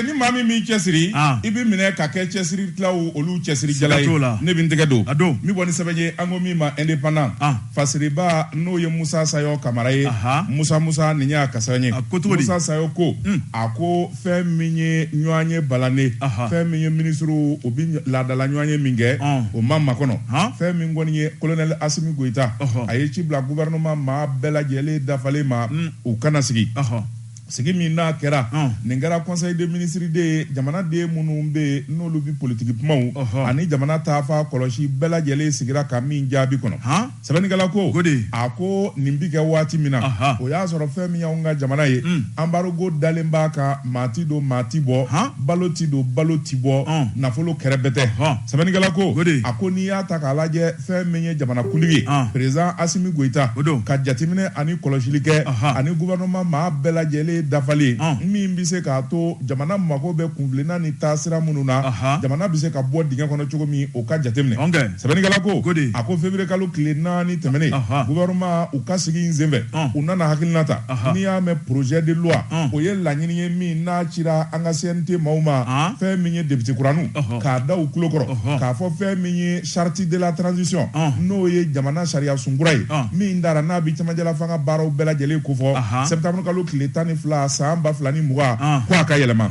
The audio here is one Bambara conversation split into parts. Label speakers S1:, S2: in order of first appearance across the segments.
S1: ni maa min m'i cɛ siri ah. i bɛ minɛ ka kɛ cɛsiri tilaw olu cɛsiri jala ye ne bɛ n tɛgɛ don n bɔ ni sɛbɛn ye an ko min ma indépendant ah. fasiriba n'o ye musa sayɔ kamara ye musa musa nin y'a ka sɛbɛn ye musa sayɔ ko hmm. a ko fɛn min ye ɲɔgɔnye balalen fɛn min ye minisiriw u bɛ laadala ɲɔgɔnye min kɛ ah. o ma makɔnɔ fɛn min kɔni ye kolonɛli asimi goyita a ye ci bila gouvernement maa bɛɛ lajɛlen dafalen ma hmm. u kana sigi Sigi min n'a kɛra, nin kɛra conseil des ministres de ye, jamanaden minnu bɛ yen n'olu bɛ politiki kumaw ani jamana taafan kɔlɔsi bɛɛ lajɛlen sigira ka min jaabi kɔnɔ. Sɛbɛnnikɛla ko, a ko nin bɛ kɛ waati min na, o y'a sɔrɔ fɛn min y'anw ka jamana ye, embargo dalen b'a kan, maa tɛ don maa tɛ bɔ, balo tɛ don balo tɛ bɔ, nafolo kɛrɛbɛtɛ. Sɛbɛnnikɛla ko, a ko n'i y'a ta k'a lajɛ, fɛn min ye jamanakuntigi ye ah. président asimi goyita ka jateminɛ ani kɔlɔsili kɛ ani gouvernement maa bɛɛ lajɛlen dafalen ah. min bɛ se k'a to jamana mago bɛ kuntilenna ni taasira minnu na jamana bɛ se ka bɔ dingɛ kɔnɔ cogo min o ka jateminɛ sɛbɛnnikɛla ko a ko février kalo tile naani tɛmɛnen gouvernement u ka sigi in senfɛ ah. u nana hakilina ta n'i y'a mɛn projet de loi o ye laɲini ye min n'a cira an ka CNT maaw ma fɛn min ye député kuraninw k'a da u tulo kɔrɔ k'a fɔ fɛn min ye Charte de la transition n'o ye jamana sariyasun kura ye min dara n'a bɛ cɛmancɛlafanga baaraw bɛɛ lajɛlen kofɔ septembre kalo tile tan ni fila san ba fila ni mugan ko a ka yɛlɛma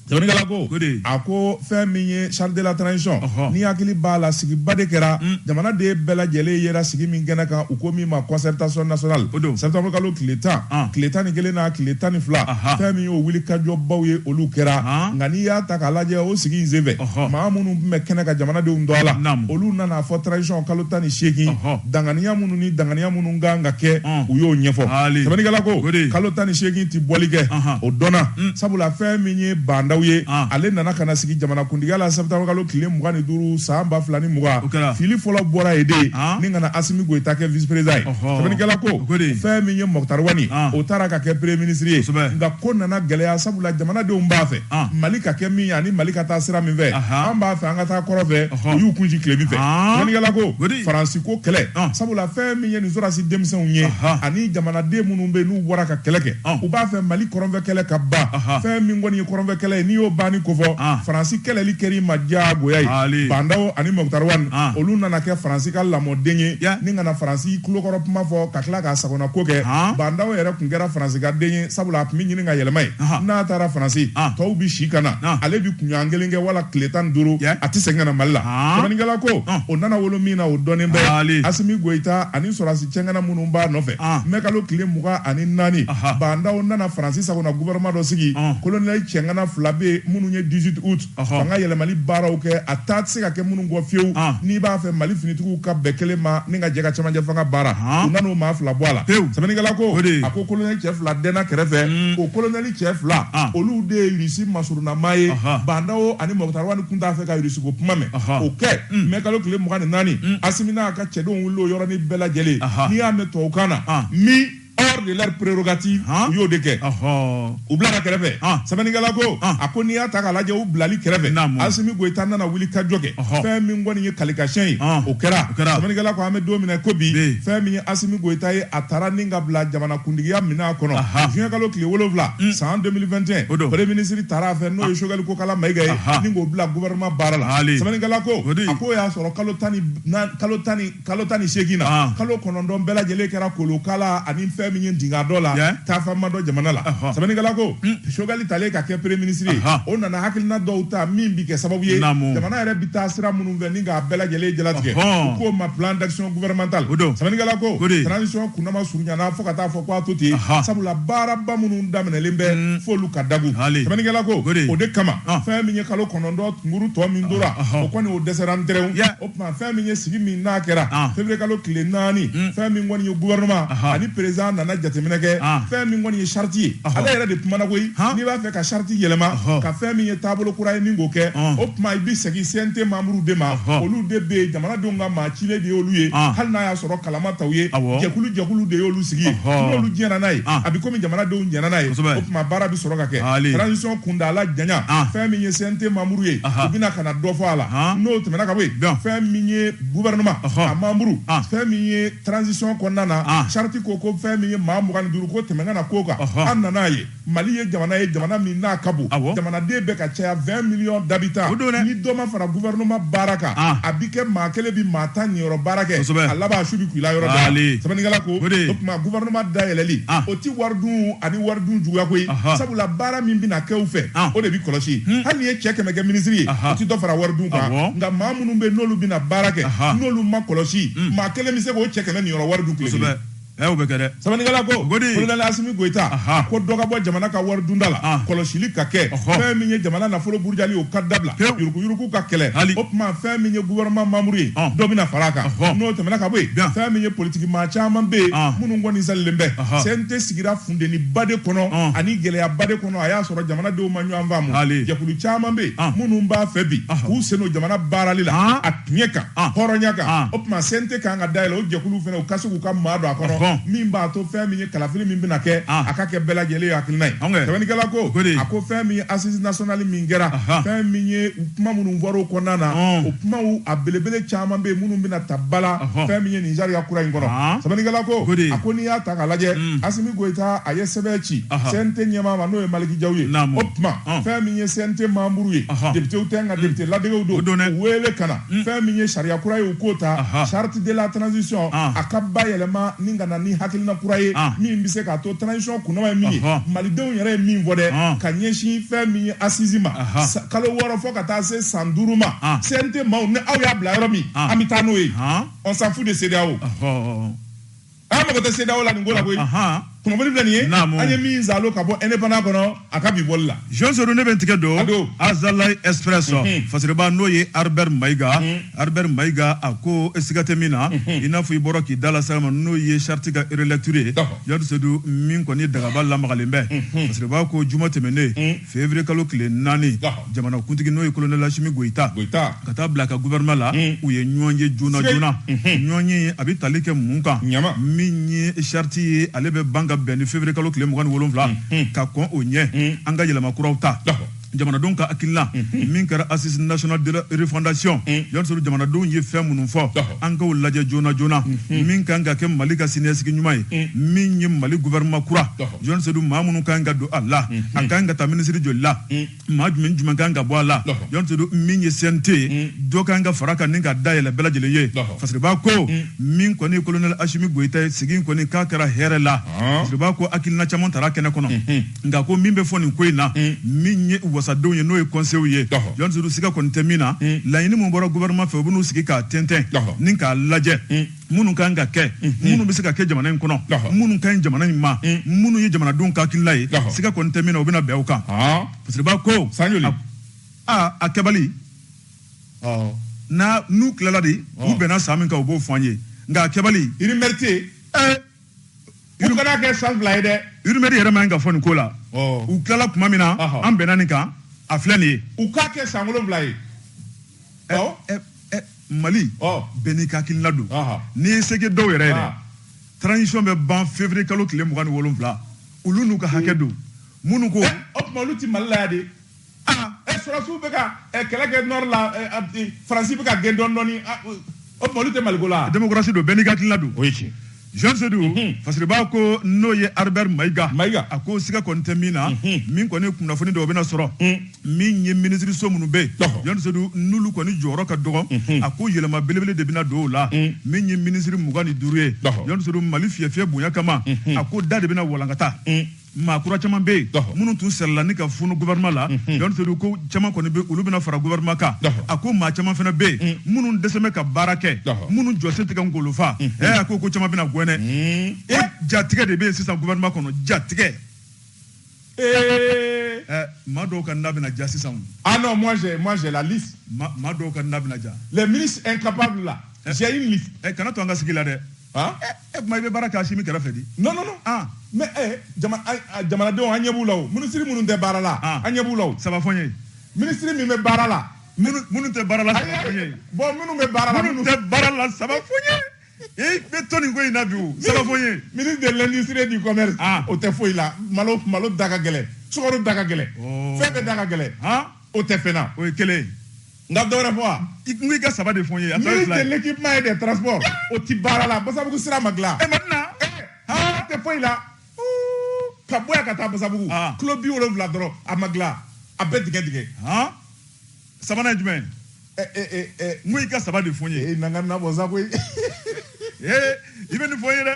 S1: sɛbɛnnikɛla ko a ko fɛn min ye charte de la transition n'i hakili b'a la sigiba de kɛra jamanaden bɛɛ lajɛlen yera sigi min kɛnɛ kan u ko min ma concertation nationale septembre kalo tile tan tile tan ni kelen n'a tile tan ni fila fɛn min y'o wulikajɔbaw ye olu kɛra nka n'i y'a ta k'a lajɛ o sigi in senfɛ maa minnu tun bɛ kɛnɛ kan jamanadenw tɔgɔ la olu nan'a fɔ transition kalo tan ni seegin danganiya minnu ni danganiya minnu kan ka kɛ u y'o ɲɛfɔ sɛbɛnnikɛla ko kalo tan ni seegin tɛ bɔli kɛ o dɔnna mm. sabula fɛn min ye ba ndaw ye ale nana ka na sigi jamanakuntigiya la septembre kalo tile mugan ni duuru san ba fila ni mugan fili fɔlɔ bɔra yen de ni ka na asimi goyita kɛ vice-président ye sɛbɛnnikɛla ko fɛn min ye mukutari wani o taara ka kɛ premier ministre ye nka ko nana gɛlɛya sabula jamanadenw b'a fɛ An. Mali ka kɛ min ye ani Mali ka taa sira min fɛ, Ahan. an b'a fɛ an ka taa kɔrɔn fɛ, Ɔhɔ. u y'u kunci tilebin fɛ. An. Sɛbɛnnikɛla ko, Ko di. Faransi ko kɛlɛ, An. sabula fɛn min ye nin sɔrɔdasi denmisɛnw ye Ahan. ani jamanaden minnu bɛ yen n'u bɔra ka kɛlɛ kɛ, An. u b'a fɛ Mali kɔrɔnfɛ kɛlɛ ka ban. Ahan. Fɛn min kɔni ye kɔrɔnfɛ kɛlɛ ye, n'i y'o banni kofɔ, An. Faransi kɛlɛli kɛr'i ma diyagoya ye. Haali. Ba Ndaw ani Mukutari Wani, An. olu nana kɛ Faransi ka lamɔden ye Ya. ni ka na Faransi tulokɔrɔ kuma fɔ ka tila k'a sago fana ko kɛ ba ndaw yɛrɛ tun kɛra faransi ka den ye sabula a tun bɛ ɲini ka yɛlɛma yen n'a taara faransi tɔw bɛ si ka na ale bɛ kunɲɔgɔn kelen kɛ wala tile tan duuru a tɛ segin ka na mali la sɛbɛnnikɛla ko o nana wolo min na o dɔnnen bɛ asimi goyita ani sɔrɔdasi cɛŋana minnu b'a nɔfɛ mɛkalo tile mugan ani naani ba ndaw nana faransi sagona gouvernement dɔ sigi kolonɛli cɛŋana fila bɛ yen minnu ye 18 août fanga yɛlɛmali baaraw kɛ a taa tɛ se ka kɛ minnu kɔ fiyewu n'i b'a fɛ mali finitigiw ka bɛn kelen ma ni ka jɛ ka cɛmancɛ fanga baara u nan'o maa fila bɔ a la sɛbɛnnikɛla ko a ko kolonɛli cɛ fila dɛnna kɛrɛfɛ o kolonɛli cɛ fila olu de ye irisi masurunna maa ye ba ndaw ani mɔkitari wani kun t'a fɛ ka irisiko kuma mɛn o kɛ mɛ kalo tile mugan ni naani asimi n'a ka cɛdenw wulila o yɔrɔnin bɛɛ lajɛlen n'i y'a mɛn tubabukan na min hors de leur prérogative u y'o de kɛ u bilara kɛrɛfɛ sɛbɛnnikɛla ko a ko n'i y'a ta k'a lajɛ u bilali kɛrɛfɛ Asimi Goyita nana wulikajɔ kɛ fɛn min kɔni ye kalikasiyɛn ye o kɛra sɛbɛnnikɛla ko an bɛ don min na ko bi fɛn min ye Asimi Goyita ye a tara ni ka bila jamanakuntigiya minɛn kɔnɔ juin kalo tile wolonwula san 2021 o don premier ministre tara a fɛ n'o ye Choguel Kokala Mayiga ye ni k'o bila gouvernement baara la sɛbɛnnikɛla ko a k'o y'a sɔrɔ kalo tan ni kalo tan ni seegin na ah. kalo kɔnɔntɔn bɛɛ lajɛlen kɛra kolokala ani fɛn min ye dinga dɔ la taafama dɔ jamana la sɛbɛnnikɛla ko hmm. Choguel talen ka kɛ premier ministre ye o nana hakilina dɔw ta min bi kɛ sababu ye jamana yɛrɛ bi taa sira minnu fɛ ni k'a bɛɛ lajɛlen jalatigɛ u k'o ma plan d'action gouvernemental sɛbɛnnikɛla ko transition kundama surunyana fo ka taa fɔ ko a to ten sabula baaraba minnu daminɛlen bɛ hmm. f'olu ka dagun sɛbɛnnikɛla ko o de kama ah. fɛn min ye kalo kɔnɔntɔn kunkurun tɔ min tora o kɔni o dɛsɛra n tuma fɛn min ye sigi min n'a kɛra ah. février kalo tile naani hmm. fɛn min kɔni ye gouvernement ani président nana jateminɛ kɛ ah. fɛn min kɔni ye charte ye ale yɛrɛ de kumana koyi n'i b'a fɛ ka charte yɛlɛma ka fɛn min ye taabolo kura ye ni k'o kɛ o tuma i bɛ segin CNT membre de ma olu de bɛ yen jamanadenw ka maa cilen de y'olu ye hali n'a y'a sɔrɔ kala ma ta u ye jɛkulu jɛkulu de y'olu sigi yen n'olu diɲɛna n'a ye a bɛ komi jamanadenw diɲɛna n'a ye o tuma baara bɛ sɔrɔ ka kɛ transition kuntaala janya fɛn min ye CNT membre ye u bɛna ka na dɔ fɔ a la n'o tɛmɛna ka bɔ yen fɛn min ye gouvernement a membre fɛn min ye transition kɔnɔna na charte ko ko fɛn min ye maa mugan ni duuru ko tɛmɛ kana k'o kan an nan'a ye Mali ye jamana ye jamana min n'a ka bon jamanaden bɛ ka caya 20 millions d'habitants ni dɔ ma fara gouvernement baara kan a bi kɛ maa kelen bi maa tan niyɔrɔ baara kɛ a laban su bi k'u la yɔrɔ dɔ sɛbɛnnikɛla ko o tuma gouvernement dayɛlɛli o tɛ wari dun ani wari dun juguya koyi sabula baara min bɛna kɛ u fɛ ah. o de bɛ kɔlɔsi hmm. hali n'i ye cɛ kɛmɛ kɛ minisiri ye o tɛ dɔ fara wari dun kan nka maa minnu bɛ n'olu bɛna baara kɛ n'olu ma kɔlɔsi hmm. maa kelen bɛ se k'o cɛ kɛmɛ niyɔrɔ wari dun tile kelen ɛ o bɛ kɛ dɛ
S2: sɛbɛnnikɛla ko kolonɛli
S1: asimi goyita ko dɔ ka bɔ jamana ka wari dunda la ah. kɔlɔsili ka kɛ fɛn min ye jamana nafolo burujali o ka dabila yuruguyurugu ka kɛlɛ o tuma fɛn min ye gouvernement membre ye ah. dɔ bɛna fara a kan n'o tɛmɛna ka bɔ yen fɛn min ye politiki maa caman bɛ yen ah. minnu kɔni salilen bɛ cnt sigira funteni ba de kɔnɔ ah. ani gɛlɛya ba de kɔnɔ a y'a sɔrɔ jamanadenw ma ɲɔgɔn faamu jɛkulu caman bɛ yen ah. minnu b'a fɛ bi ah. k'u sen don jamana baarali la ah. a tiɲɛ kan ah. hɔrɔnya kan ah. o tuma cnt kan ka dayɛlɛ o jɛkulu fana u ka se k'u ka maa don a kɔnɔ ah. min b'a to fɛn min ye kalafili min bɛna kɛ ah. a ka kɛ bɛɛ lajɛlen ye hakilina ye sɛbɛnnikɛla ko a ko fɛn min ye assise nationale min kɛra fɛn min ye kuma minnu fɔra o kɔnɔna na ah. o kumaw a belebele caman bɛ yen minnu bɛna taa bila fɛn min ye nin sariya kura in kɔnɔ sɛbɛnnikɛla ko a ko n'i y'a ta K'a lajɛ mm. Asimi Goyita a ye sɛbɛn ci CNT ɲɛmaa ma n'o ye Maliki Jaw ye o tuma fɛn min ye CNT manburu ye depitew tɛ nka mm. depite ladegew don u wele ka na mm. fɛn min ye sariya kura ye u k'o ta charte de la transition a ka bayɛlɛma ni ka na ni hakilina kura ye min bɛ se k'a to transition kuntaala ye min ye malidenw yɛrɛ ye min fɔ dɛ ka ɲɛsin fɛn min ye assise ma kalo wɔɔrɔ fo ka taa se san duuru ma CNT maaw ni aw y'a bila yɔrɔ min an bɛ taa n'o ye on s'en fout de CEDEAO. an mago tɛ CEDEAO la nin ko la koyi. Ahan. Kunnafoni filɛ nin ye. Naamu. An ye min sɔrɔ ka bɔ indépendant kɔnɔ, a ka bi bɔli la. Jean Sedu ne bɛ n tigɛ don.
S2: A don. Azalaï Express Unhun. fasiriba n'o ye Harber Mayiga. Harber Mayiga a ko siga tɛ min na, i n'a fɔ i bɔra k'i da lase a ma n'o ye charte ka relecture ye. D'accord. Jean Sedu min kɔni dagaba lamagalen bɛ. Fasiriba ko juma tɛmɛnen. Février kalo tile naani, ɔhɔ, jamanakuntigi n'o ye colonel Asimi Goyita, Goyita, ka taa bila a ka gouvernement la, un, u ye ɲɔgɔn ye joona joona, unhun, ɲɔgɔn ye in a bɛ tali kɛ mun kan, naamu, min ye charte ye ale bɛ ban ka bɛn ni février kalo tile mugan ni wolonwula, unhun, ka kɔn o ɲɛ, un, an ka yɛlɛma kuraw ta, ɔhɔ, jamanadenw ka hakilina, unhun, min kɛra Assise nationale de la refondation, un, Jɔn Sedu jamanadenw ye fɛn minnu fɔ, ɔhɔ, an k'o lajɛ joona joona, unhun, min ka kan ka kɛ Mali ka siniɲɛsigi ɲuman ye, un, min ye Mali gouvernement kura, ɔhɔ. jɔn sedu maa minnu kan ka don a la a kan ka taa minisiri joli la maa jumɛn jumɛn kan ka bɔ a la jɔn sedu min ye cnt ye dɔ kan ka fara a kan ni ka dayɛlɛ bɛɛ lajɛlen ye fasiriba ko min kɔni kolonɛli asimi goyita ye sigi kɔni k'a kɛra hɛrɛ la fasiriba ko hakilina caman tara kɛnɛ kɔnɔ nka ko min bɛ fɔ nin ko in na min ye wasadenw ye n'o ye conseil ye jɔn sedu siga kɔni tɛ min na laɲini min bɔra gouvernement fɛ u bɛn'u sigi k'a tɛntɛn ni k'a lajɛ minnu ka kan ka kɛ minnu bɛ se ka kɛ jamana in kɔnɔ minnu ka ɲi jamana in ma minnu ye jamanadenw ka hakilila ye siga kɔni tɛ min na u bɛna bɛn o kan parce que b'a ko aa a kɛbali n'a n'u tilala de u bɛnna san min kan u b'o fɔ an ye nka a kɛbali rumeur
S1: de u kana kɛ san fila ye dɛ rumeur yɛrɛ man ka
S2: fɔ nin ko la u tilala tuma min na an bɛnna nin kan a filɛ nin ye u k'a kɛ san wolonwula
S1: ye
S2: Mali bɛɛ n'i ka hakilila don n'i ye seke dɔw yɛrɛ ye transition bɛ ban février kalo tile mugan ni wolonwula olu n'u ka hakɛ don minnu ko o tuma olu tɛ Mali
S1: la yan de e sɔrɔsiw bɛ kɛlɛ kɛ nord la Faransi bɛ ka gɛn dɔɔni o tɛ mali la a démocratie don bɛɛ n'i ka hakilila
S2: don o ye tiɲɛ Jean Seydou Fasiriba ko n'o ye Albert Maïga a ko siga kɔni tɛ min na min kɔni kunnafoni dɔw bɛna sɔrɔ min ye minisiririso minnu bɛ Jean Seydou n'olu kɔni jɔyɔrɔ ka dɔgɔ a ko yɛlɛma belebele de bɛna don o la min ye minisiriri mugan ni duuru ye Jean Seydou Mali fiyɛ fiyɛ bonya kama a ko da de bɛna walankata maa kura caman bɛ yen minnu tun sɛrɛla ni ka funu gouvernement la Jean Seydou ko caman kɔni bɛ olu bɛna fara gouvernement kan a ko maa caman fana bɛ yen minnu dɛsɛ bɛ ka baara kɛ minnu jɔsen tɛ ka ngolo fa ɛ a ko ko caman bɛna gɛn ko jatigɛ de bɛ yen sisan gouvernement kɔnɔ jatigɛ ee ɛ maa dɔw ka na bɛna ja sisan ah non moi j'ai
S1: moi j'ai la liste maa dɔw ka na
S2: bɛna ja les ministres incapables
S1: là j'ai une liste ɛ kana to an ka sigi la dɛ
S2: e kuma i bɛ baara kɛ Asimi kɛrɛfɛ di non non non ah
S1: mais eh jama jamanadenw an ɲɛ b'u la o minisiri minnu tɛ baara la an ɲɛ b'u la o saba fɔ n ye
S2: minisiri min bɛ baara
S1: la minnu tɛ baara
S2: la saba fɔ n ye bon minnu bɛ baara la minnu
S1: tɛ baara la saba
S2: fɔ n ye i bɛ to nin ko in na bi o saba fɔ n ye ministre de l'industrie et du
S1: commerce o tɛ foyi la malo malo da ka gɛlɛn sukaro da ka gɛlɛn fɛn bɛɛ da ka gɛlɛn o tɛ fɛn na o ye kelen
S2: ye nka dɔ wɛrɛ
S1: fɔ wa n ko i ka saba
S2: de fɔ n ye a tɔ ye fila ye ministre de
S1: l'équipement et des transports o ti baara la basabugu sira ma dilan e Madina aa tɛ foyi la ka bɔ yan ka taa basabugu kilo biwolonwula dɔrɔn a ma dilan a bɛɛ tigɛ
S2: tigɛ sabanan ye jumɛn n ko i ka saba de fɔ n ye e na n ka nabɔ sa koyi i bɛ nin fɔ n ye dɛ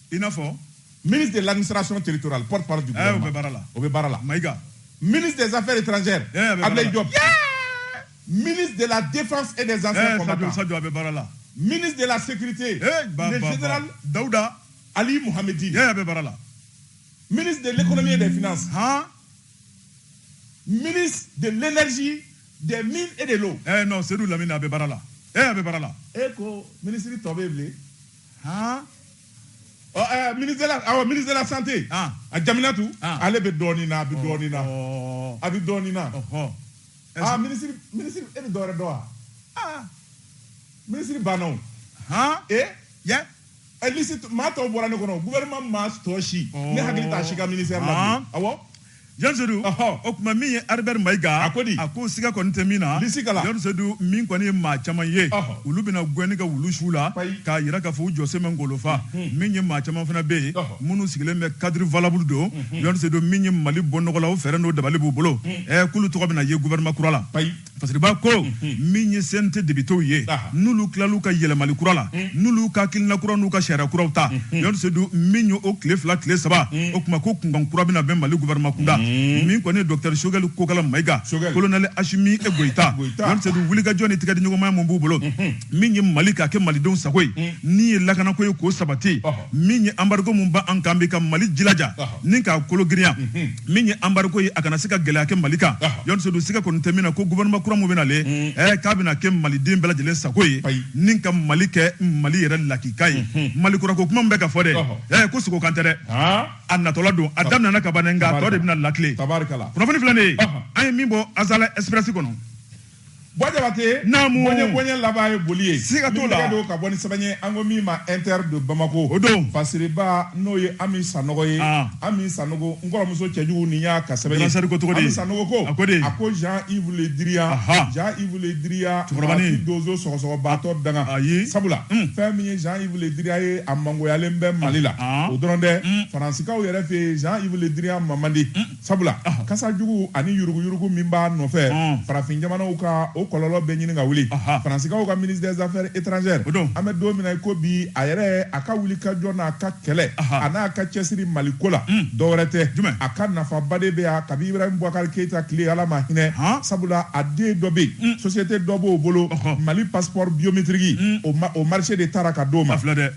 S1: i n'a fɔ
S2: ministre de
S1: l'administration territoriale porte parole du gouvernement eh, o bɛ baara la o bɛ baara la
S2: mayiga
S1: ministre
S2: des affaires
S1: étrangères eh, ablaye diop ministre de la défense et des anciens eh, combattants sadio a bɛ baara la
S2: ministre de la sécurité
S1: le général dawuda
S2: ali muhamedi
S1: a bɛ baara la
S2: ministre de
S1: l'économie et des finances han ministre de l'énergie des mines et de l'eau eh non seydou lamine a bɛ
S2: baara la eh a bɛ baara la e ko ministre
S1: tɔ bɛ yen bilen han ɔ ɛɛ ministre de la awɔ ministre de la santé han a jaminatu han ale bɛ dɔɔnin na a bɛ dɔɔnin na ɔɔ a bɛ dɔɔnin na ɔhɔ aa ministre ministre e bɛ dɔwɛrɛ dɔn wa aa ministre banna o han e yɛ ɛ lisi maa tɔw bɔra ne kɔnɔ gouvernement maa tɔ si Ɔɔ. ne hakili t'a si ka ministère la Ɔɔ. bilen awɔ Joni Seydou,
S2: ɔhɔ, o tuma min ye Albert Maïga, a ko di? A ko
S1: siga kɔni tɛ min
S2: na, lisi kala, Joni Seydou min kɔni ye maa caman ye, ɔhɔ, olu bɛna gɛnni kɛ wulu su la, payi, k'a jira k'a fɔ u jɔsen bɛ Ngolofa, unhun, min ye maa caman fana bɛ yen, ɔhɔ, minnu sigilen bɛ cadre valable don, unhun, Joni Seydou min ye Mali bɔ nɔgɔ la, o fɛɛrɛ n'o dabali b'u bolo, unhun, ɛɛ k'olu tɔgɔ bɛna ye gouvernement kura la, payi. Fasiriba ko min ye CNT députéw ye n'olu tilal'u ka yɛlɛmali kura la n'olu ka hakilina kura n'u ka sariya kuraw ta Joni Seydou min ye o tile fila tile saba o tuma ko kunkan kura bɛna bɛn mali gouvernement kunda min kɔni docteur Choguel Kokalla Maïga colonel Assimi Goïta Seydou wulikajɔ ni tigɛdiɲɔgɔnmaya min b'u bolo min ye mali k'a kɛ malidenw sago ye ni ye lakanako ye k'o sabati min ye embargo min b'an kan bi ka mali jilaja ni k'a kolo girinya min ye embargo ye a kana se ka gɛlɛya kɛ mali kan Joni Seydou siga kɔni tɛ min na ko gouvernement kura min bɛna le mm. eh, k'a bɛna kɛ maliden bɛɛ lajɛlen sago ye ni ka mali kɛ mali yɛrɛ lakika ye mm-hmm. mali kurako kuma min bɛ ka fɔ dɛ eh, ko sogo kan tɛ dɛ a natɔla don a daminɛna ka ban dɛ nka a tɔ de bɛna lakile kunnafoni filɛ nin ye an ye min bɔ azalaï express kɔnɔ Bɔ
S1: jabate naamu bɔnɲɛ bɔnɲɛ laban ye boli ye siga t'o la don ka bɔ ni sɛbɛn ye an ko min ma inter de bamako o don fasiriba
S2: n'o ye
S1: ami sanɔgɔ ye ami sanogo n kɔrɔmuso cɛjugu nin y'a ka sɛbɛn ye sari ko tɔgɔ ami sanogo ko a ko di a ko jean yves le drian jean yves le drian cɛkɔrɔbani donso sɔgɔsɔgɔbaatɔ danga ayi sabula fɛn min ye jean yves le drian ye a mangoyalen bɛ mali la o dɔrɔn tɛ faransikaw yɛrɛ fɛ yen jean yves le drian ma man di Sabula kasa jugu ani yuruguyurugu min b'a nɔfɛ farafin jamanaw kan o kɔlɔlɔ bɛ ɲini ka wuli faransikaw ka ministre des affaires étrangères an bɛ don min na ko bi a yɛrɛ a ka wuli ka jɔ n'a ka kɛlɛ a n'a ka cɛsiri mali ko la dɔwɛrɛ tɛ jumɛn a ka nafaba de bɛ yan kabi Ibrahim Boubacar Keïta tile ala ma hinɛ sabula a den dɔ bɛ yen société dɔ b'o bolo mali passeport biométrique o marché de tara ka d'o ma filɛ dɛ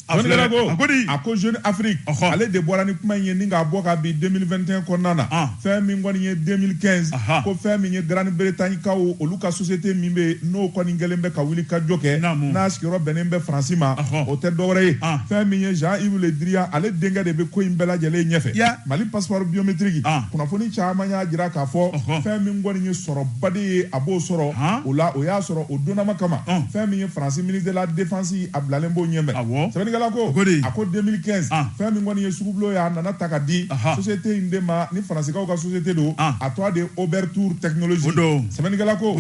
S1: A Jɔnni kɛra ko? A ko di? a ko jeune afrique Ɔhɔ. ale de bɔra ni kuma in ye ni k'a bɔ kabi 2021 kɔnɔna na Ah. fɛn min kɔni ye 2015 Aha. ko fɛn min ye grande bretagne kaw olu ka société min bɛ yen n'o kɔni kɛlen bɛ ka wulikajɔ kɛ Naamu. n'a sigiyɔrɔ bɛnnen bɛ faransi ma Ɔhɔ. o tɛ dɔwɛrɛ ye Ah. fɛn min ye jean yves le drian ale denkɛ de bɛ ko in bɛɛ lajɛlen ɲɛfɛ Ya. mali passeport biométrique Ah. kunnafoni caman y'a jira k'a fɔ Ɔhɔ. fɛn min kɔni ye sɔrɔba de ye a b'o sɔrɔ Ah. o la o y'a sɔrɔ o donnama kama Ah. fɛn min ye faransi ministre de la défense a bilalen b'o ɲɛfɛ sɛbɛnnikɛla ko a ko 2015 ah. fɛn min kɔni ye sugubulo ye a nana ta ka di société in de ma ni faransikaw ka société don ah. a tɔgɔ de oberthur technologies sɛbɛnnikɛla ko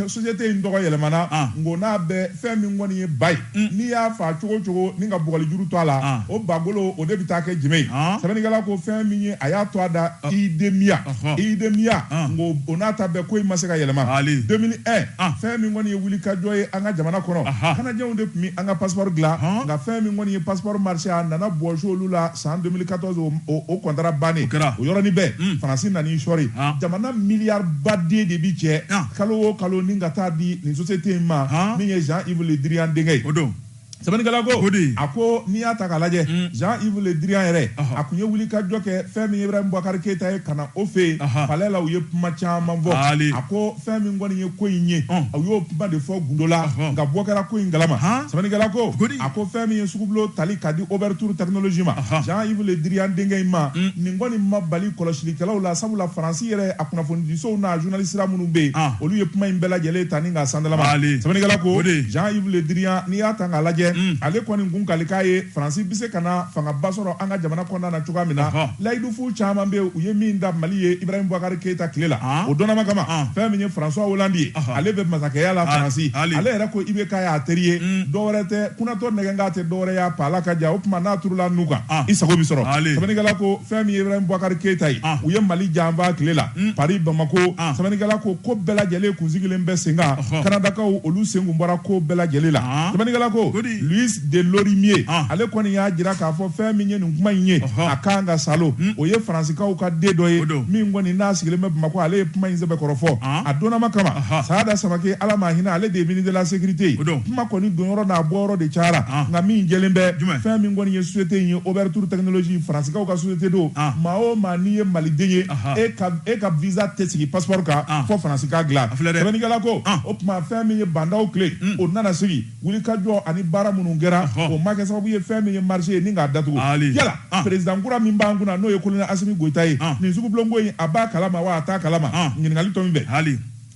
S1: société in tɔgɔ yɛlɛmana ah. ngo n'a bɛ fɛn min kɔni ye ba ye mm. n'i y'a fa cogo o cogo ni ka bugɔlijuru to a la o bagolo o de bɛ taa kɛ jenbe ye sɛbɛnnikɛla ko fɛn min ye a y'a tɔgɔ da idemia idemia ngo o n'a ta bɛɛ ko in ma se ka yɛlɛma 2001 fɛn min kɔni ye wulikajɔ ye an ka jamana kɔnɔ canadienw de tun bɛ an ka passeport dilan nka fɛn min kɔni ye passeport marché a nana bɔsi olu la san 2014 o contrat bannen o yɔrɔnin bɛɛ hmm. faransi nan'i sɔri jamana miliyari baden de bi cɛ kalo o kalo ni ka taa di nin société in ma min ye Jean Yves Le Drian denkɛ ye sɛbɛnnikɛla ko o de ye a ko n'i y'a ta k'a lajɛ mm. jean yves le drian yɛrɛ a kun ye wulikajɔ kɛ fɛn min ibrahim boubacar keita ye ka na o fɛ yen palais la u ye kuma caman fɔ a ko fɛn min kɔni ye ko in ye u y'o kuma de fɔ gundo la nka bɔ kɛra ko in kalama sɛbɛnnikɛla ko a ko fɛn min ye sugubulo tali ka di oberthur technologies ma jean yves le drian denkɛ in ma mm. nin kɔni ma bali kɔlɔsilikɛlaw la sabula faransi yɛrɛ a kunnafonidisow n'a journalistes minnu bɛ yen, olu ye kuma in bɛɛ lajɛlen ta ni k'a sandalama. Sɛbɛnnikɛla ko, Jean Yves Le Drian, n'i y'a ta k'a lajɛ, ale kɔni kun kali k'a ye Faransi bɛ se ka na fangaba sɔrɔ an ka jamana kɔnɔna na cogoya min na, layidufu caman bɛ yen, u ye min ta Mali ye Ibrahim Boubacar Keita tile la, o dɔnnama kama, fɛn min ye François Hollande ye, ale bɛ masakɛya la Faransi, ale yɛrɛ ko IBK y'a teri ye, dɔ wɛrɛ tɛ, kunatɔ nɛgɛnkan tɛ dɔ wɛrɛ ye a paala ka ja, o tuma n'a turula nu kan, i sago bɛ sɔrɔ. Sɛbɛnnikɛla ko. fɛn min ye Ibrahim Boubacar Keita ye, u ye Mali janfa tile la Paris Bamako, sɛbɛnnikɛla ko ko bɛɛ lajɛlen kun sigilen bɛ sen kan, Kanadakaw olu sen kun bɔra ko bɛɛ lajɛlen la, sɛbɛnnikɛla ko Louis de Lorimier ale kɔni y'a jira k'a fɔ fɛn min ye nin kuma in ye a ka kan ka salo, o ye Faransikaw ka den dɔ ye min kɔni n'a sigilen bɛ Bamako ale ye kuma in sɛbɛkɔrɔ fɔ a donnama kama, Sada Samaké Ala ma hinɛ ale de ye ministre de la sécurité ye, kuma kɔni donyɔrɔ n'a bɔyɔrɔ de cayara nka min jɛlen bɛ fɛn min kɔni ye société in ye Oberthur Technologies Faransikaw ka société don ah. maa o maa n'i ye Maliden ye e ka e ka visa tɛ sigi passeport kan ah. fo Faransi k'a dilan sɛbɛnnikɛla ko ah. o tuma fɛn min ye Bah N'Daw tile hmm. o nana sigi wulikajɔ ani baara minnu kɛra o ma kɛ sababu ye fɛn min ye marché ye ni k'a datugu yala président kura min b'an kunna n'o ye colonel Assimi Goïta ye nin sugubulonko in a b'a kalama wa a t'a kalama ɲininkali tɔ min bɛ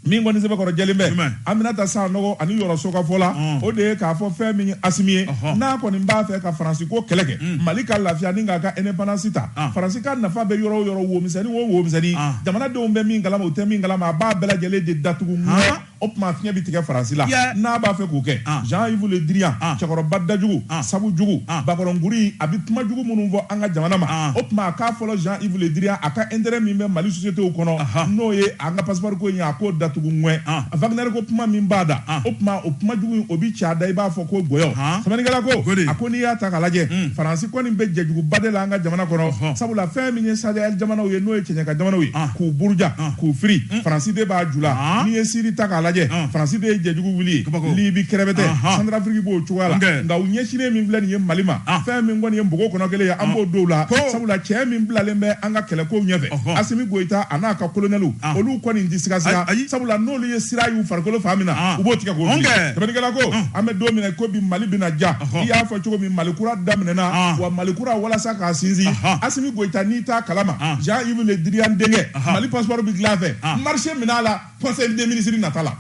S1: min kɔni sɛbɛkɔrɔ jɛlen bɛ Jumɛn? aminata sanogo ani yɔrɔ sokafɔ la Ɔn. o de ye k'a fɔ fɛn min ye assimi ye Ɔhɔ. n'a kɔni b'a fɛ ka faransi ko kɛlɛ kɛ mali ka lafiya ni k'a ka indépendance ta Ah. faransi ka nafa bɛ yɔrɔ o yɔrɔ womisɛnni o womisɛnni Ah. jamanadenw bɛ min kalama u tɛ min kalama a b'a bɛɛ lajɛlen de datugu Ah. ŋɛɲɛ o tuma fiɲɛ bɛ tigɛ faransi la Yeah. n'a b'a fɛ k'o kɛ Ah. jean yves le drian Ah. cɛkɔrɔba dajugu Ah. sabu jugu Ah. bakɔrɔnkuri a bɛ kuma jugu minnu fɔ an ka jamana ma Ah. o tuma a k'a fɔlɔ jean yves le drian a ka intérêt min bɛ mali société kɔnɔ Aha. n'o ye An ka passeport ko in a k'o datugu ŋwɛ. Wagner ko kuma min b'a da, o tuma o kuma jugu in o bɛ cɛ a da i b'a fɔ ko gɔyɔ. Sɛbɛnnikɛla ko, a ko n'i y'a ta k'a lajɛ, Faransi kɔni bɛ jɛjuguba de la an ka jamana kɔnɔ, sabula fɛn min ye Saheli jamanaw ye n'o ye kɛɲɛka jamanaw ye, k'u buruja, k'u firi, Faransi de b'a ju la. N'i ye Siri ta k'a lajɛ, Faransi de ye jɛjugu wuli ye, Libi kɛrɛbɛtɛ, Santarafiriki b'o cogoya la, nka u ɲɛsinnen min filɛ nin ye Mali ma, fɛn min kɔni ye npogo kɔnɔ kelen ye, an b'o don u la, sabula cɛ min bilalen bɛ an ka kɛlɛkow ɲɛfɛ, Asimi Goyita a n'a ka kolonɛliw olu kɔni tɛ sigasiga sabula n'olu ye sira y'u farikolo fan min na u b'o tigɛ k'o fili sɛbɛnnikɛla ko an bɛ don min na i ko bi Mali bɛna diya i y'a fɔ cogo min Mali kura daminɛna wa Mali kura walasa k'a sinsin Asimi Goyita n'i t'a kalama Jean Yves Le Drian denkɛ Mali passeport bɛ dilan a fɛ marché minɛ a la conseil des ministres nata la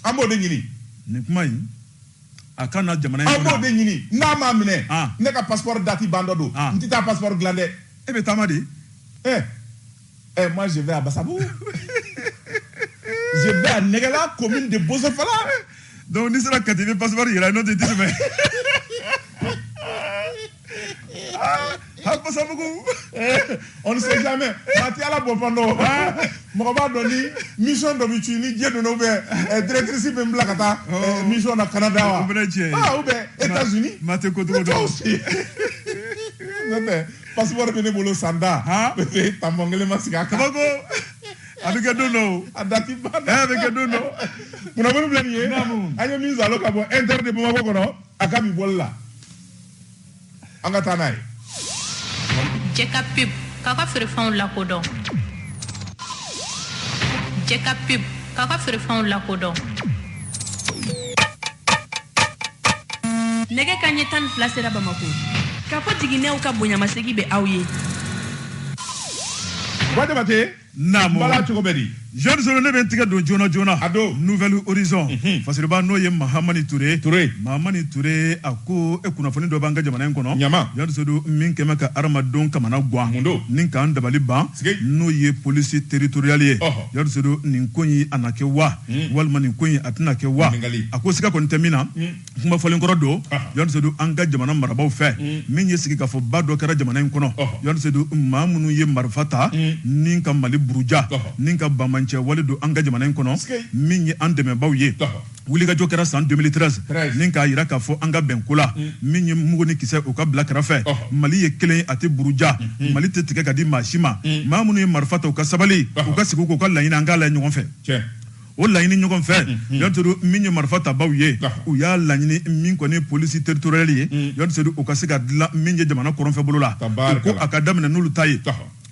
S1: an b'o de ɲini nin kuma in
S2: a ka na jamana in aw b'o de ɲini
S1: n'a m'a minɛ ah. ne ka passeport dati bantɔ don ah. n tɛ taa passeport dilan dɛ e bɛ taama de
S2: eh
S1: eh moi je vais à Basabugu je vais à Nɛgɛla commune de Bosofala donc n'i
S2: sera Kati i bɛ passeport yira n'o tɛ i tɛ tɛmɛ
S1: Ah, Basabugu on ne sait jamais maa ti Ala bɔfan dɔn ah, mɔgɔ b'a dɔn ni mission dɔ bɛ ci ni diɲɛ donna ou bien eh, directrice bɛ n bila ka taa eh, oh. mission na Canada wa ah, ou bien États-Unis maa tɛ ko cogo dɔn n'o tɛ passeport bɛ ne bolo san tan tanpɔn kelen ma sigi a
S2: kan. a bɛ kɛ don dɔ o. a dati ba dɛ. a bɛ
S1: kɛ don dɔ.
S2: kunnafoni filɛ
S1: nin ye. an ye min zalo ka bɔ inter de bamakɔ kɔnɔ a ka bi bɔli la. an ka taa n'a
S3: ye jɛka pub k'a ka feerefɛnw lakodɔn jɛka pub k'a ka feerefɛnw lakodɔn
S4: nɛgɛ kanɲɛ tan ni fila sera bamako Kafo Jiginɛw ka bonyamasegi bɛ aw ye
S1: Ba Jabate
S2: Bala cogo bɛ di
S1: jɔnni sedu ne bɛ
S2: n tigɛ don joona joona a don Nouvel
S1: Horizon
S2: fasiriba n'o ye mahamani ture ture mahamani ture a ko e kunnafoni dɔ b'an ka jamana in kɔnɔ ɲama jɔnni
S1: sedu min
S2: kɛmɛ ka hadamadenw kamanagan mun don ni k'an
S1: dabali
S2: ban n'o ye polisi teritoriyali ye jɔnni sedu nin ko in a na kɛ wa walima nin ko in a tɛna kɛ wa a ko siga kɔni tɛ min na kuma fɔlen kɔrɔ don yɔrɔ sedu an ka jamana marabagaw fɛ mm. min ye sigikafɔba dɔ kɛra jamana in kɔnɔ yɔrɔ sedu maa minnu ye marifa ta mm. ni ka mali buruja ni ka banbaanci wale don an ka jamana in kɔnɔ min ye an dɛmɛbaw ye wulikajɔ kɛra san 2013 ni k'a yira k'a fɔ an ka bɛn ko la mm. min ye mugu ni kisɛ o ka bila kɛrɛfɛ mali ye kelen a tɛ buruja mm-hmm. mali tɛ tigɛ ka di maa si ma maa minnu ye marifa ta u ka sabali u ka sigi k'u ka laɲini an k'a lajɛ ɲɔgɔn fɛ o laɲini ɲɔgɔn fɛ jean sedu min ye marifa tabaw ye u y'a laɲini min kɔni polisi territoriale ye jean sedu o ka se ka dilan min ye jamana kɔrɔnfɛ bolo la ko a ka daminɛ n'olu ta ye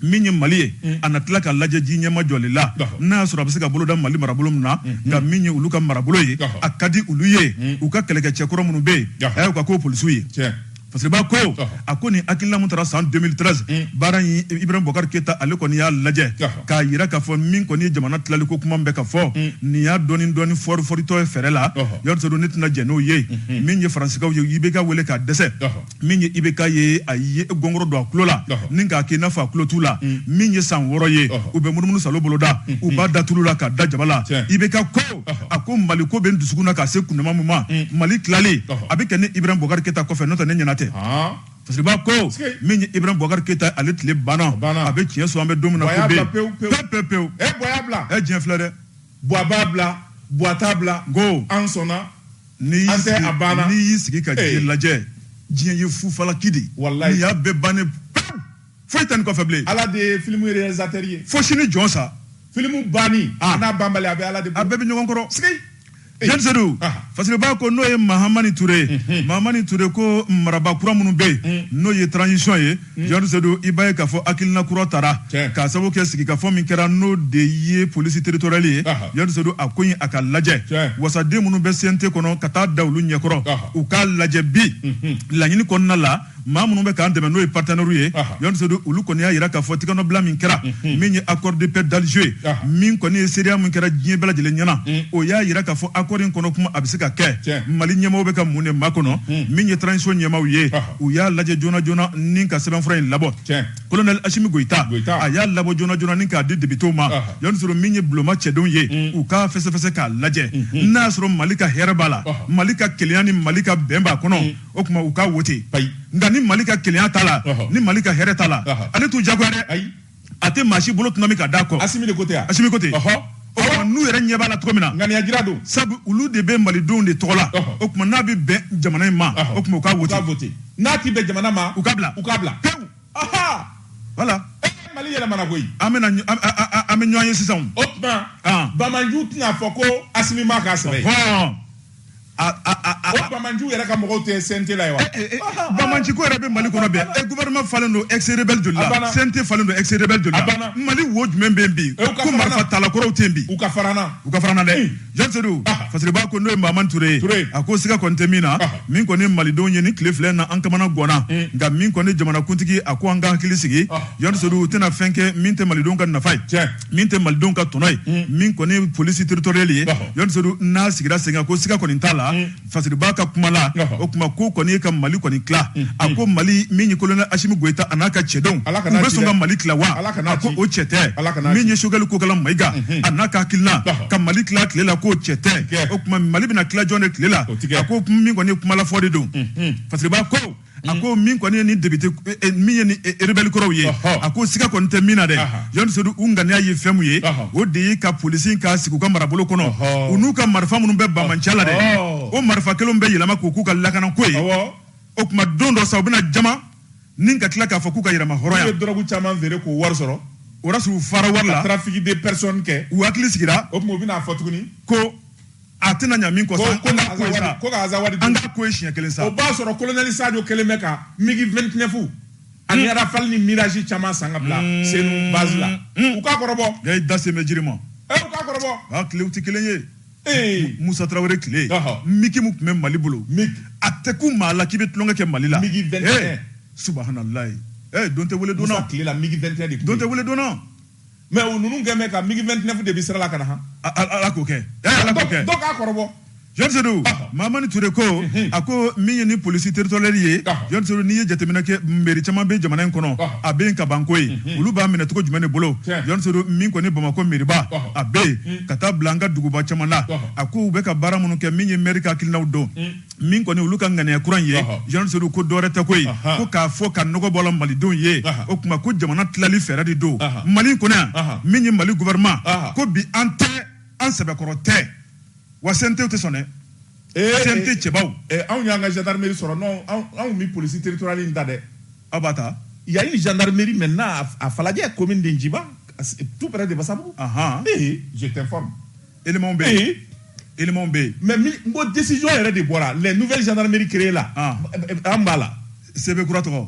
S2: min ye mali ye a na tila ka lajɛ ji ɲɛma jɔli la n'a y'a sɔrɔ a bɛ se ka bolo da mali marabolo min na nka min ye olu ka marabolo ye a ka di olu ye u ka kɛlɛkɛcɛ kɔrɔ minnu bɛ yen a y'u ka k'o polisiw ye Fasiriba ko a ko ni hakilina min taara san 2013 baara in ibrahim bubakari keyita ale kɔni y'a lajɛ k'a jira k'a fɔ min kɔni ye jamana tilali ko kuma bɛ ka fɔ nin y'a dɔɔni dɔɔni foriforitɔ ye fɛrɛ la jean sedu ne tɛna jɛn n'o ye min ye faransikaw ye IBK weele ka dɛsɛ min ye IBK ye a ye gɔngɔrɔ don a tulo la ni k'a kɛ i n'a fɔ a tulo t'u la min ye san wɔɔrɔ ye u bɛ munumunu salo bolo da u b'a da tulu la k'a da jaba la IBK a ko mali ko bɛ n dusukun na ka se kundama min ma mm. mali tilali a bɛ kɛ ne ibrahim bubakari keyita kɔfɛ n'o tɛ ne ɲɛna tɛ fasiriba ko min ye ibrahim bubakari keyita ale tile banna a bɛ tiɲɛ so an bɛ don min na pewu pewu pewu e
S1: diɲɛ filɛ
S2: dɛ buwa b'a
S1: bila buwa t'a bila ko an sɔnna
S2: ni a banna n'i y'i sigi k'a lajɛ diɲɛ ye fufalaki de wala y'a bɛɛ ban foyi tɛ nin kɔfɛ bilen ala de ye
S1: filimu réalisateur ye fo sini jɔn
S2: sa filimu
S1: banni ah. n'a banbali a bɛ ala de bolo a bɛɛ bɛ ɲɔgɔn kɔrɔ
S2: sigi jean sedu ah. fasiriba ko n'o ye mahamani ture ye mhm. mahamani ture ko marabaa kura minnu bɛ yen mhm. n'o ye transition ye mhm. jean sedu i b'a ye k'a fɔ hakilina kura tara k'a sababu kɛ sigikafɔ min kɛra n'o de ye polisi territoriale ye jean sedu a ko in a k'a lajɛ wasaden minnu bɛ CNT kɔnɔ ka taa da olu ɲɛkɔrɔ u k'a lajɛ bi laɲini kɔnɔna la maa minnu bɛ k'an dɛmɛ n'o ye partenaires ye Jean Sedu olu kɔni y'a jira k'a fɔ tigɛnɔbila min kɛra min ye accord de paix d'Alger ye min kɔni ye seereya min kɛra diɲɛ bɛɛ lajɛlen ɲɛna o y'a jira k'a fɔ accord in kɔnɔ kuma a bɛ se ka kɛ Mali ɲɛmaaw bɛ ka mun de makɔnɔ min ye transition ɲɛmaaw ye u y'a lajɛ joona joona ni ka sɛbɛnfura in labɔ colonel Asimi Goyita a y'a labɔ joona joona ni k'a di députés ma Jean Sedu min ye bulonma cɛdenw ye u k'a fɛsɛfɛsɛ k'a lajɛ n'a y'a sɔrɔ Mali ka hɛrɛ b'a la Mali ka kelenya ni Mali ka bɛn b'a kɔnɔ. o tuma u k'a wote nka ni mali ka kelenya t'a la ni mali ka hɛrɛ t'a la ale t'u jagoya dɛ a tɛ maa si bolo tuma min ka da kɔ asimi ko tɛ asimi ko tɛ n'u yɛrɛ ɲɛ b'a la cogo min na ŋaniya jira don sabu
S1: olu de bɛ
S2: malidenw de tɔgɔ la o tuma n'a bɛ bɛn jamana in ma o tuma u k'a wote n'a tɛ bɛn
S1: jamana ma u k'a bila u k'a
S2: bila pewu wala
S1: mali yɛlɛmana koyi an bɛ
S2: an bɛ ɲɔgɔn ye sisan o tuma
S1: bamanju tɛna fɔ ko asimi ma k'a sɛbɛn o bamanju yɛrɛ ka mɔgɔw tɛ CNT la ye wa bamanju ko yɛrɛ bɛ
S2: mali kɔnɔ bɛn e gouvernement falen don ex-rebelle joli la CNT falen don ex-rebelle joli la mali wo jumɛn bɛ yen bi ko marifatala kɔrɔw tɛ yen bi u ka farana u ka
S1: farana
S2: dɛ jean sedu fasiriba ko n'o ye mahamani ture ye a ko siga kɔni tɛ min na min kɔni malidenw ye nin tile fila na an kamana ganna nka min kɔni jamanakuntigi a ko an ka hakili sigi jean sedu u tɛna fɛn kɛ min tɛ malidenw ka nafa ye min tɛ malidenw ka tɔnɔ ye mm. min kɔni ye polisi territorial ye jɔnsedu n'a sigira sen kan ko siga kɔni t'a la mm. fasiriba ka kuma la o kuma ko kɔni ye ka mali kɔni tila mm. a ko mali min ye kolonɛ asimi goyita a n'a ka cɛdenw u bɛ sɔn ka mali tila wa a ko o cɛ tɛ min ye sogɛli kokala mayiga mm-hmm. a n'a ka hakilina ka mali tila tile la k'o cɛ tɛ o kuma mali bɛna tila jɔn de tile la a ko min kɔni ye kuma la fɔ de don mm-hmm. fasiriba ko a ko min kɔni ye ni député min ye ni rebelle kɔrɔw ye a ko siga kɔni tɛ min na dɛ John Sedu u ŋaniya ye fɛn min ye o de ye ka polisi in ka sigi u ka marabolo kɔnɔ u n'u ka marifa minnu bɛ bamanciya la dɛ o marifa kelenw bɛ yɛlɛma k'u k'u ka lakanako ye o tuma don dɔ sa u bɛna jamana in ka tila k'a fɔ k'u ka yɛrɛmahɔrɔnya u ye dɔrɔgu
S1: caman
S2: feere k'o
S1: wari sɔrɔ o y'a sɔrɔ u fara
S2: wari la trafic de personne kɛ
S1: u hakili sigira o tuma
S2: u bɛna fɔ tuguni
S1: ko
S2: a tɛna ɲa min kɔ sa ko ka ko sa ko ka
S1: azawadi an ka ko ye siɲɛ kelen
S2: sa o b'a sɔrɔ
S1: kolonɛli sadio kɛlen bɛ ka migi 29 ani hmm. rafal ni mirage caman san ka bila hmm. senu base la hmm. u k'a kɔrɔbɔ yayi da sen bɛ jiri ma
S2: eh, u k'a
S1: kɔrɔbɔ a ah, tilew tɛ kelen
S2: ye eh. musa tarawele tile migi min tun bɛ mali bolo a tɛ kun maa la k'i bɛ tulonkɛ kɛ mali la migi 21 eh,
S1: subahanallahi
S2: don tɛ wele donna musa tile la migi 21 de
S1: don tɛ wele donna
S2: mais o
S1: ninnu kɛlen bɛ ka migi 29 de bi sira la ka na han ala k'o
S2: kɛ ala k'o kɛ dɔ k'a
S1: kɔrɔbɔ jɔnsedu
S2: mamani ture ko a ko min ye ni polisi territorial ye jɔnsedu n'i ye jateminɛ kɛ meri caman bɛ jamana in kɔnɔ a bɛ yen ka ban ko ye olu b'a minɛ cogo jumɛn de bolo jɔnsedu min kɔni bamakɔ meriba a bɛ yen ka taa bila an ka duguba caman na a ko u bɛ ka baara minnu kɛ min ye meri ka hakilinaw don min kɔni olu ka ŋaniya kura ye jean sedu ko dɔwɛrɛ tɛ ko ye ko k'a fɔ ka nɔgɔ bɔ la malidenw ye o tuma ko jamana tilali fɛɛrɛ de don mali kɔnɔ yan min ye mali gouvernement ko bi an tɛ an sɛbɛkɔrɔ tɛ wa CNTw tɛ sɔn dɛ CNT cɛbaw anw y'an ka
S1: gendarmerie sɔrɔ non anw mi polisi territoriale in ta dɛ aw b'a
S2: ta il y a une gendarmerie
S1: maintenant à Falajɛ commune de Njiba tout près de Basabugu je t'informe
S2: éléments bɛ yen éléments bɛ yen mais n ko
S1: décision yɛrɛ de bɔra les nouvelles gendarmeries créées la ah. an b'a la CB kura tɔgɔ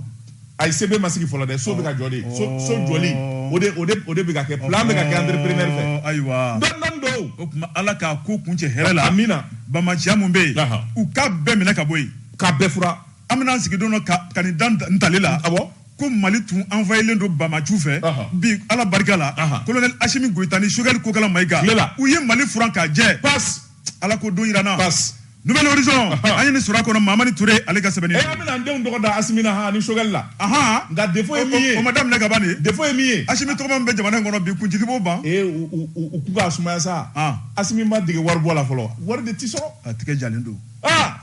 S2: ayi CB ma
S1: sigi fɔlɔ dɛ so bɛ ka jɔ de so so oh. jɔli o de o de o de bɛ ka kɛ plan bɛ ka kɛ entrepreneur fɛ oh, ayiwa dɔɔni dɔɔni
S2: don o
S1: tuma ala k'a ko
S2: kuncɛ hɛrɛ la amina bamaciya
S1: min bɛ yen
S2: u k'a bɛɛ minɛ ka bɔ yen k'a bɛɛ
S1: furan an bɛna an sigi don dɔ
S2: ka ka nin da ntalen la awɔ ko
S1: mali
S2: tun envahilen don bamanciw fɛ bi ala barika la kolonɛli asimi goyita ni sukɛli kokala mayika u ye mali furan k'a jɛ pas ala k'o
S1: don jira
S2: an na pas nouvelle horizon an ye nin sɔrɔ a kɔnɔ mamani ture ale ka sɛbɛnni an bɛna an denw tɔgɔ da
S1: asimi na ha ni sukɛli la nka défaut ye min ye o ma daminɛ ka ban
S2: de défaut ye min ye
S1: asimi tɔgɔma min bɛ jamana
S2: in kɔnɔ bi kunsigi b'o ban ee u k'u k'a
S1: sumaya sa asimi ma dege wari bɔ la fɔlɔ wari de tɛ sɔrɔ a tigɛ jalen don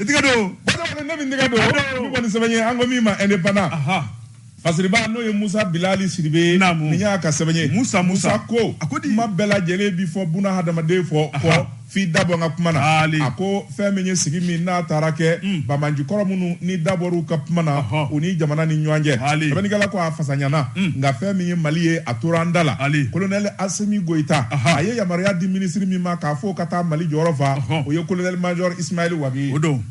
S2: I tɛgɛ don ne
S1: bɛ n tɛgɛ don kɔni sɛbɛn ye an ko min ma Indépendant fasiriba n'o ye musa bilali sidibe n y'a ka sɛbɛn ye mu musa ko a ko di kuma bɛɛ lajɛlen bɛ fɔ buna hadamaden fɔ kɔ f'i dabɔ ka kuma na a ko fɛn min ye sigi min n'a taara kɛ banbanci kɔrɔ minnu ni dabɔ ka kuma na u ni jamana ni ɲɔgɔn cɛ sɛbɛnnikɛla ko a fasa ɲana nka fɛn min ye mali ye a tora an da la kolonɛli asimi goyita a ye yamaruya di minisiri min ma k'a fɔ ka taa Mali jɔyɔrɔ fa, o ye colonel major Ismail Wague ye. O don.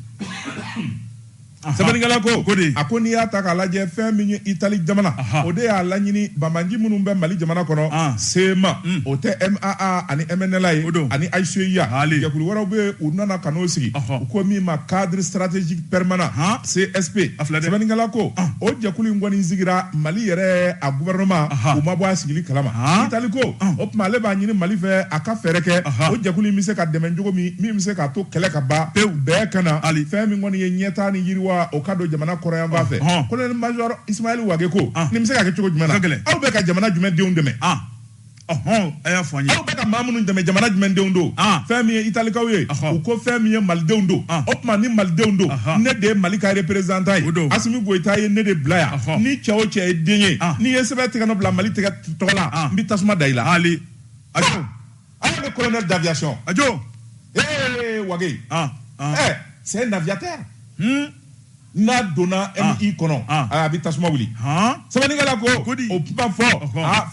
S1: Sɛbɛnnikɛla ko, ko di? A ko n'i y'a ta k'a lajɛ fɛn min ye Itali jamana, o de y'a laɲini banbanci minnu bɛ Mali jamana kɔnɔ, CMA, o tɛ MAA ani MNLA ye, ani HCUA, jɛkulu wɛrɛw bɛ yen, u nana ka n'o sigi, u ko min ma cadre stratégique permanent, CSP, sɛbɛnnikɛla ko, o jɛkulu in kɔni sigira Mali yɛrɛ a gouvernement u ma bɔ a sigili kalama. Itali ko tuma ale b'a ɲini mali fɛ a ka fɛɛrɛ kɛ o jɛkulu bɛ se ka dɛmɛ cogo min min bɛ se k'a to kɛlɛ ka ban pewu bɛn ka na ani fɛn min kɔni ye ɲɛta ni yiriwa o ka don jamana kɔrɔnyanfan fɛ kolonɛli majɔ isimayɛli wage ko nin bɛ se ka kɛ cogo jumɛn na aw bɛ ka jamana jumɛn denw dɛmɛ
S2: ɔhɔn a y'a fɔ an ye aw bɛ ka maa minnu
S1: dɛmɛ jamana jumɛn denw don fɛn min ye italikaw ye u ko fɛn min ye malidenw don o tuma ni malidenw don ne de ye mali ka reperezanta ye asimi goyita ye ne de bila yan ni cɛ o cɛ ye den ye n'i ye sɛbɛn tɛgɛ nɔ bila mali tɔgɔ la ah. n bɛ tasuma da i la ali ajo ah. ajo bɛ colonel d'aviation ajo ee wage ɛ ah, eh, c'est un aviateur hmm? n'a donna MI kɔnɔ a bɛ tasuma wuli sɛbɛnnikɛla ko o kuma fɔ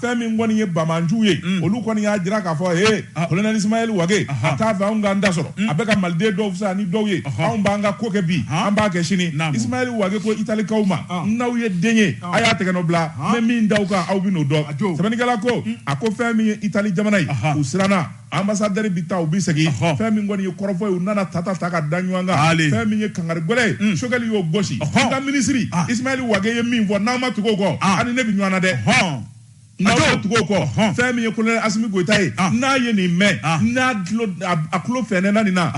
S1: fɛn min kɔni ye banbanciw ye hmm. olu kɔni y'a jira k'a fɔ ee colonel ismaɛl wage a t'a fɛ anw k'an ta sɔrɔ hmm. a bɛ ka maliden dɔw fisaya ni dɔw ye anw b'an ka ko kɛ bi an b'a kɛ sini ismaɛl wage ko italikaw ma n'aw ye den ye a y'a tɛgɛ nɔ bila n bɛ min da aw kan aw bɛ n'o dɔn sɛbɛnnikɛla ko mm. a ko fɛn min ye itali jamana ye u siranna anbasadɛri bi taa u bɛ segin fɛn min kɔni ye kɔrɔfɔ ye u nana tata ta ka da ɲɔgɔn kan fɛn min ye kangari gɛlɛn ye mm. sogɛli y'o gosi n ka minisiri ah. isimayɛli wage ye min fɔ n'aw ma tugu o kɔ ah. aw ni ne bɛ ɲɔgɔn na dɛ n'aw ma tugu o kɔ fɛn min ye kolonɛli asimi goyita ye n'a ye nin mɛn n'a dlo a tulo fɛnɛna nin na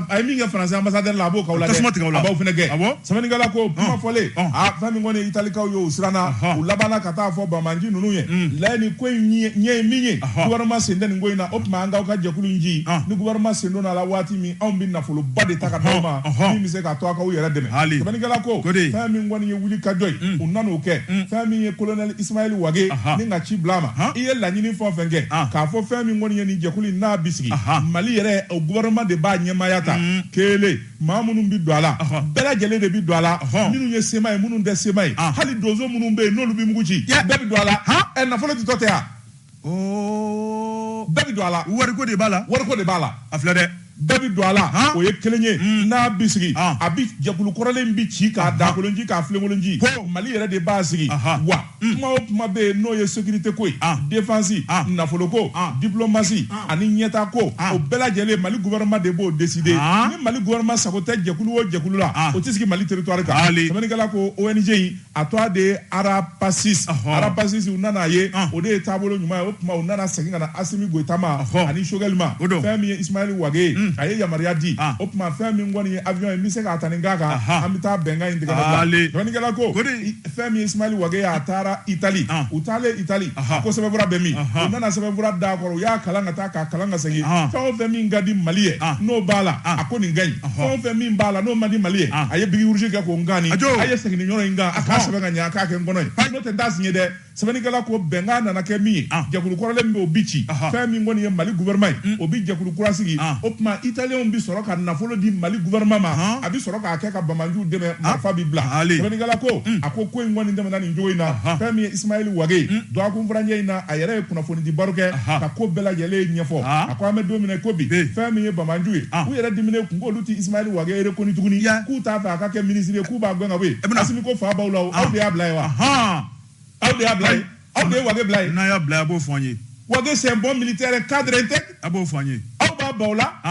S1: a ye min kɛ faransi ambasadɛri la a b'o k'aw la tasuma tigɛ o la a b'aw fɛnɛ gɛn awɔ sɛbɛnnikɛla ko kuma fɔlen a fɛn min kɔni ye italikaw ye u siranna u labanna ka taa fɔ banbanci ninnu ye layi nin ko in ɲɛ ye min ye gouvernement sen tɛ nin ko in na o tuma an k'aw ka jɛkulu in ci ni gouvernement sen donna a la waati min anw bɛ nafoloba de ta ka d'aw ma min bɛ se k'a to aw k'aw yɛrɛ dɛmɛ sɛbɛnnikɛla ko fɛn min kɔni ye wulikajɔ ye u nan'o kɛ fɛn min ye kolonɛli Ismaël Wage ni ka ci bila a ma i ye laɲini fɛn o fɛn kɛ k'a fɔ fɛn min kɔni ye nin jɛkulu in n'a bi sigi Mali yɛrɛ o gouvernement de b'a ɲɛmaaya ta kelen maa minnu bɛ don a la bɛɛ lajɛlen de bɛ don a la minnu ye sema ye minnu tɛ sema ye hali donso minnu bɛ yen n'olu bɛ mugu ci bɛɛ bɛ don a la ɛ nafolo ditɔ tɛ wa. Oh. bɛɛ bɛ don a la wariko de b'a la wariko
S2: de b'a la a filɛ
S1: dɛ bɛɛ bɛ don a la o ye kelen ye hmm. n'a bɛ sigi a bɛ jɛkulu kɔrɔlen bɛ ci k'a dakolonci k'a filenkolonci mali yɛrɛ de b'a sigi wa hmm. kuma o kuma bɛ yen n'o ye sécurité ko ye défense nafoloko diplomasi ani ɲɛtaa ko o bɛɛ lajɛlen mali gouvernement de b'o décider ni mali gouvernement sago tɛ jɛkulu o jɛkulu la o tɛ sigi mali territoire kan sɛbɛnnikɛla ko ONG in a tɔgɔ de ye arapasis arapasis u nana ye o de ye taabolo ɲuman ye o tuma u nana segin ka na asimi goyita ma ani sogɛli ma fɛn min ye isimayɛli wage ye a ye yamaruya di o tuma fɛn min kɔni ye avion ye n bɛ se k'a ta nin k'a kan an bɛ taa bɛnkan in tigɛ ka bila dɔnnikɛla ko fɛn min ye isimayɛli wage ye a taara itali u taalen itali ko sɛbɛnfura bɛ min u nana sɛbɛnfura d'a kɔrɔ u y'a kalan ka taa k'a kalan ka segin ah. fɛn o fɛn min ka di mali ye ah. n'o b'a la ah. a ko nin ka ɲi fɛn o fɛn min b'a la n'o man di mali ye a ye bic rouge kɛ k'o nkaani a ye segin nin yɔrɔ in kan a k'a sɛbɛn ka ɲɛ a k'a kɛ n kɔnɔ ye n'o tɛ n t'a signer dɛ sɛbɛnnikɛla ko bɛnkan nana kɛ min ye jɛkulu kɔrɔlen min bɛ o bi ci fɛn min kɔni ye mali gouvernement ye mm. o bi jɛkulu kura sigi o tuma italienw bi sɔrɔ ka nafolo di mali gouvernement ma a bi sɔrɔ k'a kɛ ka banbaanciw dɛmɛ marifa bi bila sɛbɛnnikɛla ko mm. a ko ko in kɔni tɛmɛna nin cogo in na fɛn min ye isimayɛli wage mm. dɔgɔkun furancɛ in na a yɛrɛ ye kunnafonidi baro kɛ ka ko bɛɛ lajɛlen ɲɛfɔ a ko an bɛ don min i ko bi fɛn min ye banbaanciw ye u yɛrɛ diminen ko k'olu tɛ ismaili wage reconnu tuguni k'u t'a fɛ a ka kɛ minisiri ye k'u b'a gɛn ka bɔ yen asimi ko fa b'aw la aw de y'a bila yen wa aw de y'a bila yen aw de ye wage bila yen n'a y'a bila a b'o fɔ an ye
S2: wage c'est un
S1: bon militaire cadre intègre a b'o fɔ an ye
S2: aw b'a baw la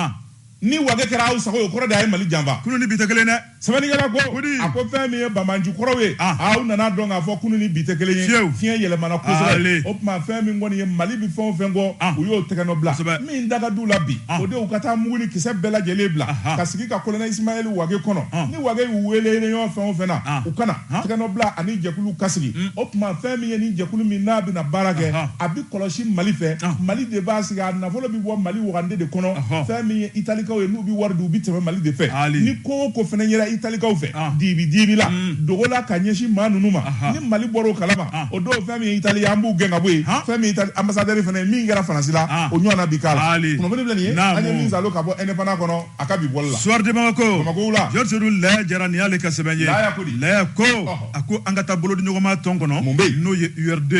S1: ni wage kɛra aw sago ye o kɔrɔ de a ye mali janfa kunu ni bi tɛ kelen
S2: dɛ sɛbɛnnikɛla
S1: ko a ko fɛn min ye banbaanci kɔrɔw ye ah. aw nana dɔn k'a fɔ kunu ni bi tɛ kelen ye fiɲɛ yɛlɛmana kosɛbɛ o tuma fɛn min kɔni ye mali bi fɛn o fɛn kɔ ah. u y'o tɛgɛnɔ bila min da ka d'u la bi ah. o de u ka taa mugu ni kisɛ bɛɛ lajɛlen bila ka sigi ka kolonɛli isimayɛli wage kɔnɔ ni wage y'u wele ɲɔgɔn fɛn o fɛn na u kana tɛgɛnɔ bila ani jɛkulu ka sigi mm. o tuma fɛn min ye ni jɛkulu min n'a bɛna baara kɛ a bi kɔlɔsi mali fɛ mali de b'a sigi a Nafolo bɛ bɔ Mali wagande de kɔnɔ, ɔhɔ, fɛn min ye Italikaw ye n'u bɛ wari di u bɛ tɛmɛ Mali de fɛ, haali, ni ko o ko fana yera Italikaw fɛ, an, dibi dibi la, un, dogo la ka ɲɛsin maa ninnu ma, aha, ni Mali bɔra o kalama, an, o don fɛn min ye Itali ye an b'u gɛn ka bɔ yen, han, fɛn min ye Itali anbasadɛri fana ye min kɛra Faransi la, an, o ɲɔgɔnna bɛ k'a la, haali, kunnafoni filɛ nin ye, naamu, an ye min salo ka bɔ Indépendant kɔnɔ a ka bi bɔli la. Soir de Bamako, Bamako
S2: wula, Georges
S1: Odul Laya Jara nin
S2: y'ale ka sɛbɛn ye, Laya ko di? Laya ko, ɔhɔ. a ko an ka taa bolodiɲɔgɔnma tɔn kɔnɔ mun bɛ n'o ye urd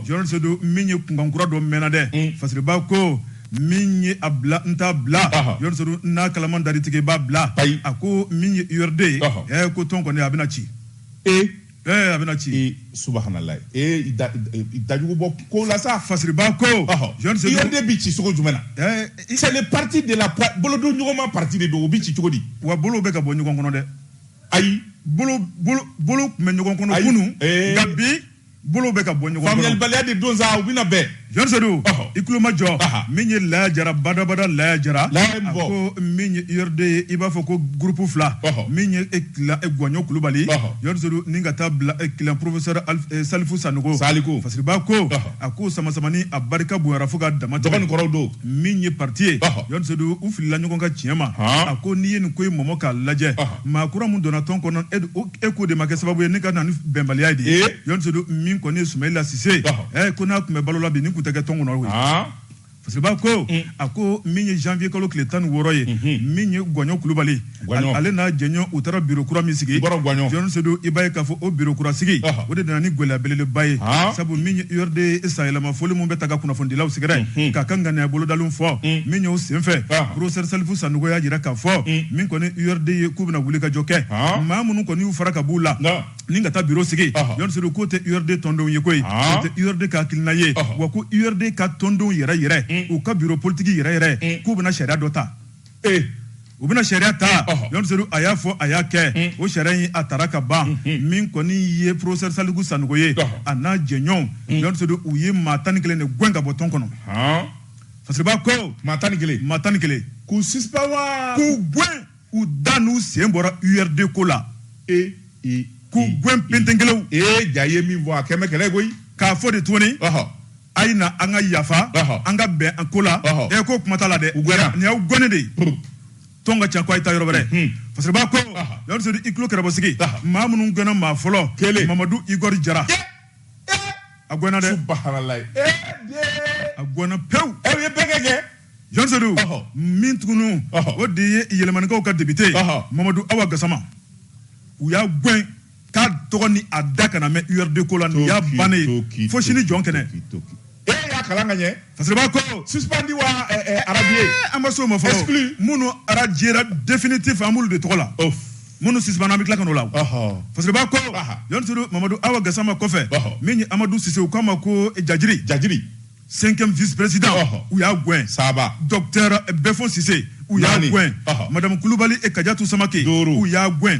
S2: Georges min ye kunkan kura dɔ mɛnna dɛ mm. fasiriba ko min ye a bila n t'a bila Georges n'a kalaman dar'i tɛgɛ i b'a bila a ko min ye urd ye ɛ ko tɔn kɔni a bɛna ci ee a bɛna ci subahanalayi
S1: ee dajugu bɔ ko la sa fasiriba
S2: ko urd bɛ
S1: ci cogo jumɛn na c'est le parti de la bolodiɲɔgɔnma parti de don o bɛ ci cogo di wa bolo bɛ ka bɔ ɲɔgɔn
S2: kɔnɔ dɛ ayi bolo tun bɛ ɲɔgɔn kɔnɔ kunun nka bi bolo bɛ ka bɔ ɲɔgɔn kɔnɔ faamuyalibaliya de don sa u
S1: bɛna bɛn yɔrɔ sedu i
S2: tulo majɔ min ye laya jara badabada laya jara a ko min ye urd ye i b'a fɔ ko groupe fila min ye clan gɔɲɔ kulubali yɔrɔ sedu ni ka taa bila clan professeur salifu sanɔgɔ saliku fasiriba ko a ko samasamani a barika bonyara fo ka damatɛmɛ dɔgɔ ni kɔrɔ don min
S1: ye parti
S2: ye John Sedu u filila ɲɔgɔn ka tiɲɛ ma a ko n'i ye nin ko in mɔmɔ k'a lajɛ maa kura min donna tɔn kɔnɔ e k'o de ma kɛ sababu ye ni ka na ni bɛnbaliya ye dɛ John Sedu min kɔni ye Sumayila Sise ɛ ko n'a tun bɛ balo la bi nin tun tɛ kɛ tɔn kɔnɔ koyi Fasiriba ko a ko min ye janvier kalo tile tan ni wɔɔrɔ ye min ye Gɔɲɔ Kulubali Guwaɲɔn. Ale n'a jɛɲɔɔn u taara biro kura min sigi. Bɔrɔ Guwaɲɔn. Jɔn Sedu, i b'a ye k'a fɔ o biro kura sigi. Ɔhɔ. O de nana ni gɛlɛya belebeleba ye. Haa. Sabu min ye URD sanyɛlɛma foli min bɛ taa ka kunnafonidilaw sɛgɛrɛ. K'a ka ŋaniya bolodalenw fɔ. Min y'o senfɛ. Ɔhɔ. Professeur Salifu Sanogo y'a jira k'a fɔ. Min kɔni ye URD ye k'u bɛna wulikajɔ kɛ. Haa. Maa minnu kɔni y'u fara ka b'u la. Nka. Ni ka taa biro sigi. Ɔhɔ. Jɔn Sedu k'o tɛ URD tɔndenw ye koyi. Haa. O tɛ URD ka hakilina ye. Ɔhɔ. Wa ko URD ka tɔndenw yɛrɛ-yɛrɛ. U ka biro politiki yɛrɛ-yɛrɛ. K'u bɛna sariya dɔ ta. ee u bɛna sariya ta yɔrɔ sedu a y'a fɔ a y'a kɛ hmm. o sariya in a taara ka ban hmm, hmm. min kɔni ye professeur saliku sanɔgɔ ye a n'a jɛɲɔgɔnw yɔrɔ sedu u ye maa tan ni kelen de gɛn ka bɔ tɔn kɔnɔ fasiriba ko maa tan ni kelen maa tan
S1: ni kelen k'u sisipan wa k'u
S2: gɛn u da n'u sen bɔra urd ko la ee k'u gɛn penten kelenw ee ja ye min
S1: fɔ a kɛmɛ kɛlɛ koyi k'a fɔ de tuguni
S2: a ye na an ka yafa an ka bɛn an ko la ɛ ko kuma t'a la dɛ nin y'aw gɛnnen de ye tɔn ka ca ko a ye taa yɔrɔ wɛrɛ fasiriba ko yɔrɔ sedu i tulo kɛrɛbɔsigi maa minnu gɛnna maa fɔlɔ kelen mamadu igɔri jara a gɛnna dɛ a gɛnna pewu aw ye bɛɛ kɛ
S1: kɛ jɔn
S2: sedu min tugunu o de ye yelimanikaw ka depite mamadu awa gasama u y'a gɛn k'a tɔgɔ ni a da kana mɛn URD ko la nin y'a bannen ye fo sini jɔn kɛnɛ. E y'a
S1: kalan ka ɲɛ fasiriba
S2: ko suspendi wa
S1: arajiye eh, an ma s'o ma fɔlɔ
S2: exclu minnu arajiyera définitif an b'olu de tɔgɔ la minnu sisipanna an bɛ tila ka n'o la fasiriba ko yɔrɔ sedu mamadu awa gasama kɔfɛ min ye amadu sise u k'a ma ko eh, jajiri jajiri cinquième vice président u y'a gɛn saba docteur
S1: eh,
S2: bɛfɔn sise u y'a gɛn madamu kulubali kajatu samake u y'a gɛn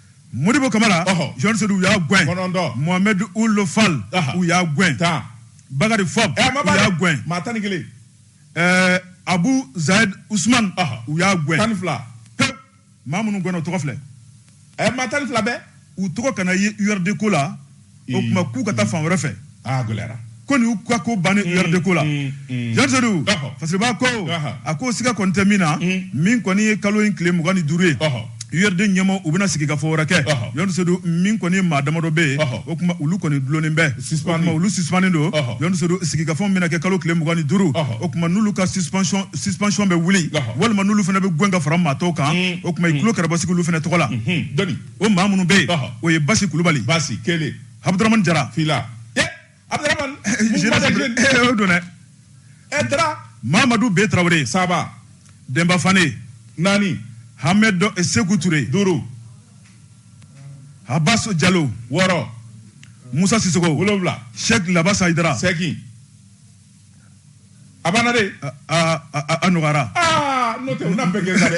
S2: modibo kamara jɔn sedu u y'a gɛn mohamɛd uld fal u y'a gɛn bakari fɔnba eh, u y'a gɛn
S1: eh,
S2: abu zayed usman u y'a gɛn
S1: pewu
S2: maa minnu gɛnna o tɔgɔ filɛ eh, maa tan ni
S1: fila bɛɛ u tɔgɔ kana ye
S2: urd ko la o tuma k'u ka taa fan wɛrɛ fɛ a gɛlɛyara
S1: ko ninnu ka
S2: ko bannen URD ko la jaridu fasiriba ko a ko siga kɔni tɛ min na min kɔni ye kalo in tile mugan ni duuru ye URD ɲɛmɔgɔw bɛna sigikafɔ wɛrɛ kɛ yɔrɔdu min kɔni ye maa damadɔ bɛ yen o tuma olu kɔni dulonnen bɛ olu suspenlen don yɔrɔdu sigikafɔ bɛna kɛ kalo tile mugan ni duuru o tuma n'olu ka suspension bɛ wuli walima n'olu fana bɛ gɛn ka fara maa tɔw kan o tuma i tulo kɛrɛbɔ sigi olu fana tɔgɔ la o maa minnu bɛ yen o ye basi kulubali basi
S1: kelen abudurahamani
S2: jara
S1: fila
S2: abudurahamani o don dɛ ɛ dara
S1: mamadu B
S2: tarawele saba
S1: denba
S2: fane
S1: naani
S2: hamɛdi seku ture
S1: duuru
S2: abasi jalo wɔɔrɔ
S1: musa
S2: sisoko wolowula
S1: sɛki labasa
S2: ayidara seegin
S1: a banna dɛ
S2: a nɔgɔyara n'o tɛ u
S1: na bɛɛ gɛnna
S2: dɛ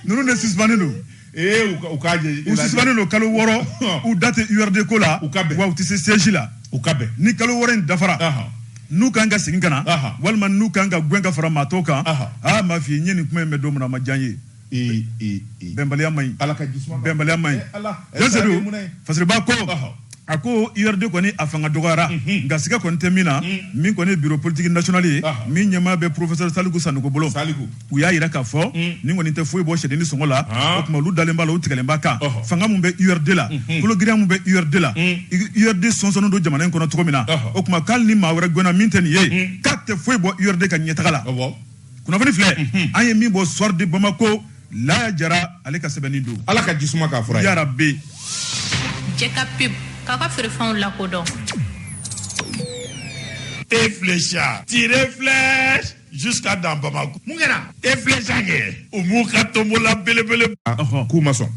S2: ninnu de suspenlen don ee u k'a jɛ
S1: u suspenlen don kalo
S2: wɔɔrɔ u da tɛ URD ko la u ka bɛn wa u tɛ se siège la u ka bɛn ni
S1: kalo wɔɔrɔ in
S2: dafara n'u kan ka segin ka na walima n'u kan ka gɛn ka fara maa tɔw kan aa m'a f'i ye n ye nin kuma in mɛn don min na a ma diya n ye bɛnbaliya man ɲi bɛnbaliya man ɲi fasiriba ko a ko URD kɔni a fanga dɔgɔyara nka siga kɔni tɛ min na min kɔni ye bureau politique national ye min ɲɛmaa bɛ professeur saliku sanɔgɔ bolo u y'a jira k'a fɔ nin kɔni tɛ foyi bɔ sɛdennin sɔngɔ la o tuma olu dalen b'a la u tigɛlen b'a kan fanga min bɛ URD la kologirinya min bɛ URD la URD sonsonnen don jamana in kɔnɔ cogo min na o tuma k'ali ni maa wɛrɛ gɛnna min tɛ nin ye k'a tɛ foyi bɔ URD ka ɲɛtaga la kunnafoni filɛ mhm. an ye min bɔ soir de bamako laya jara ale ka sɛbɛnni don ala ka jisuma k'a fura
S1: ye yarabi
S2: jɛ
S3: ka pub k'a ka feerefɛnw
S5: lakodɔn e flecha tire flèche jusqu'à dans bamako mun kɛra e flecha kɛ u m'u ka tombola belebele k'u ma sɔn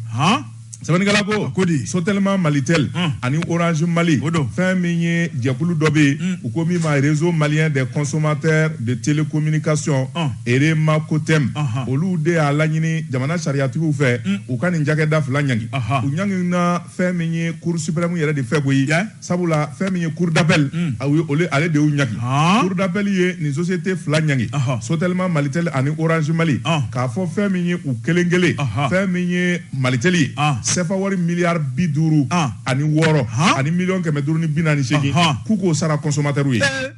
S1: sɛbɛnnikɛla ko ko di sotelima malitel hmm. ani orange mali o don fɛn min ye jɛkulu dɔ bɛ yen hmm. u ko min ma réseau malien des consommateurs de télécommunication hmm. REMACOTEM olu de y'a laɲini jamana sariyatigiw fɛ u ka nin cakɛda fila ɲangi u ɲangina fɛn min ye cour suprême yɛrɛ de fɛ koyi sabula fɛn min ye cour d'appel hmm. a ye olu ale de y'u ɲangi ah. cour d'appel ye nin société fila ɲangi sotelima malitel ani orange mali ah. k'a fɔ fɛn min ye u kelen kelen fɛn min ye malitel ye ah. sefa wari miliyari bi duuru ani wɔɔrɔ ani miliyɔn kɛmɛ duuru ni bi naani ni seegin k'u k'o sara consommateurw ye eh.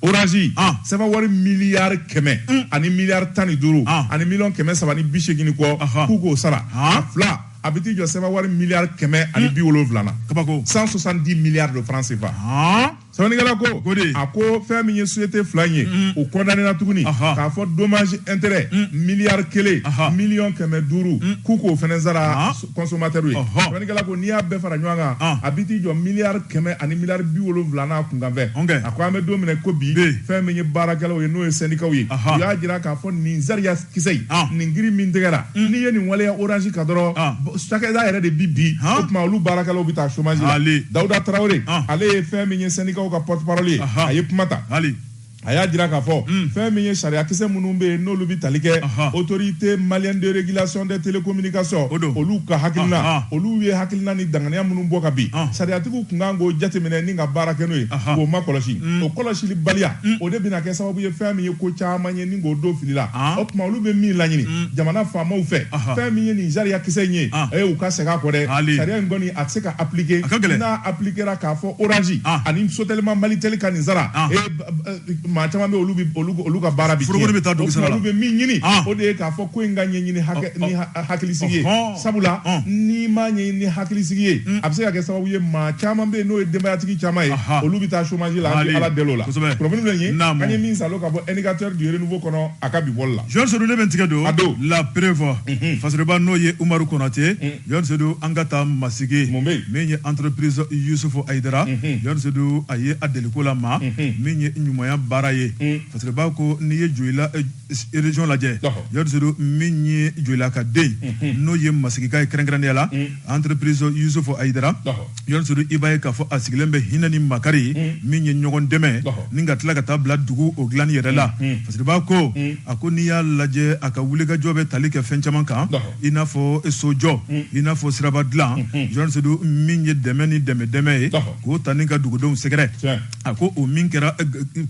S1: orange sefa wari miliyari kɛmɛ mm. ani miliyari tan ni duuru ani miliyɔn kɛmɛ saba ni bi seegin kɔ k'u k'o sara a fila a bɛ t'i jɔ sefa wari miliyari kɛmɛ ani mm. bi wolonwula na kabako cent soixante-dix milliards de francs CFA sɛbɛnnikɛla ko ko di a ko fɛn min ye société fila in ye mm. o condamnéna tuguni k'a fɔ dommage intérêt miliyari kelen miliyɔn kɛmɛ duuru k'u k'o fɛnɛ sara consommateur ye sɛbɛnnikɛla ko n'i y'a bɛɛ fara ɲɔgɔn kan ah. a bi t'i jɔ miliyari kɛmɛ ani miliyari bi wolonwula n'a kunkanfɛn a ko an bɛ don min na ko bi fɛn min ye baarakɛlaw ye n'o ye sɛndikaw ye u y'a jira k'a fɔ nin sariya kisɛ in ah. nin kiiri min tigɛra mm. n'i ye nin waleya orange kan dɔrɔn ah. cakɛda yɛrɛ de bi bin o tuma olu baarakɛlaw bɛ taa chômage la Dawuda Tarawele ale ye fɛn min ye sɛndikaw ka porte-parole ye a ye kuma ta a y'a jira k'a fɔ hmm. fɛn min ye sariyakisɛ minnu bɛ yen n'olu bɛ tali kɛ autorité malienne de régulation des télécommunications olu ka hakilina olu ye hakilina ni danganiya minnu bɔ ka bin sariyatigiw tun ka kan k'o jateminɛ ni ka baara kɛ n'o ye k'o ma kɔlɔsi hmm. o kɔlɔsili baliya hmm. o de bɛna kɛ sababu ye fɛn min ye ko caman ye ni k'o don fili la o tuma olu bɛ min laɲini jamana faamaw fɛ fɛn min ye nin sariyakisɛ in ye u ka segin a kɔ dɛ sariya in kɔni a tɛ se ka appliquer n'a appliquera k'a fɔ orange ah. ani Sotelma Malitel ka nin sara ah. maa caman bɛ olu olu ka baara bi forokoni bɛ taa dugu sara la olu
S2: bɛ min ɲini ah.
S1: o
S2: de
S1: ye k'a fɔ ko in ka ɲɛɲini ni hakilisigi ye sabula n'i m'a ɲɛɲini ni hakilisigi ye hmm. a bɛ se ka kɛ sababu ye maa caman bɛ yen n'o ye denbayatigi caman ye olu bɛ taa chômage la an bɛ ala deli o la kunnafoni filɛ nin ye an ye min saalo ka bɔ indicateur du renouveau kɔnɔ a ka bi bɔli la Yɔni Sedu ne bɛ n tigɛ
S2: don la preuve mhm. Fasiriba n'o ye Umaru Konate hmm. Yɔni Sedu an ka taa masigi min ye entreprise Yusufu Ayidara Yɔni Sedu a ye a deliko la ma min ye ɲumanya baara ye Fasiriba ko n'i ye Joyila région lajɛ Yɔni Sedu min ye Joyila ka den n'o ye masigika ye kɛrɛnkɛrɛnya la entreprise Yusufu Ayidara Yɔni Sedu i b'a ye k'a fɔ a sigilen bɛ hinɛ ni makari min ye ɲɔgɔn dɛmɛ ni ka tila ka taa bila dugu o dilanni yɛrɛ la Fasiriba ko a ko n'i y'a lajɛ a ka wulikajɔ bɛ tali kɛ fɛn caman kan i n'a fɔ sojɔ i n'a fɔ siraba dilan Yɔni Sedu min ye dɛmɛ ni dɛmɛ dɛmɛ ye k'o ta ni ka dugudenw sɛgɛrɛ a ko o min kɛra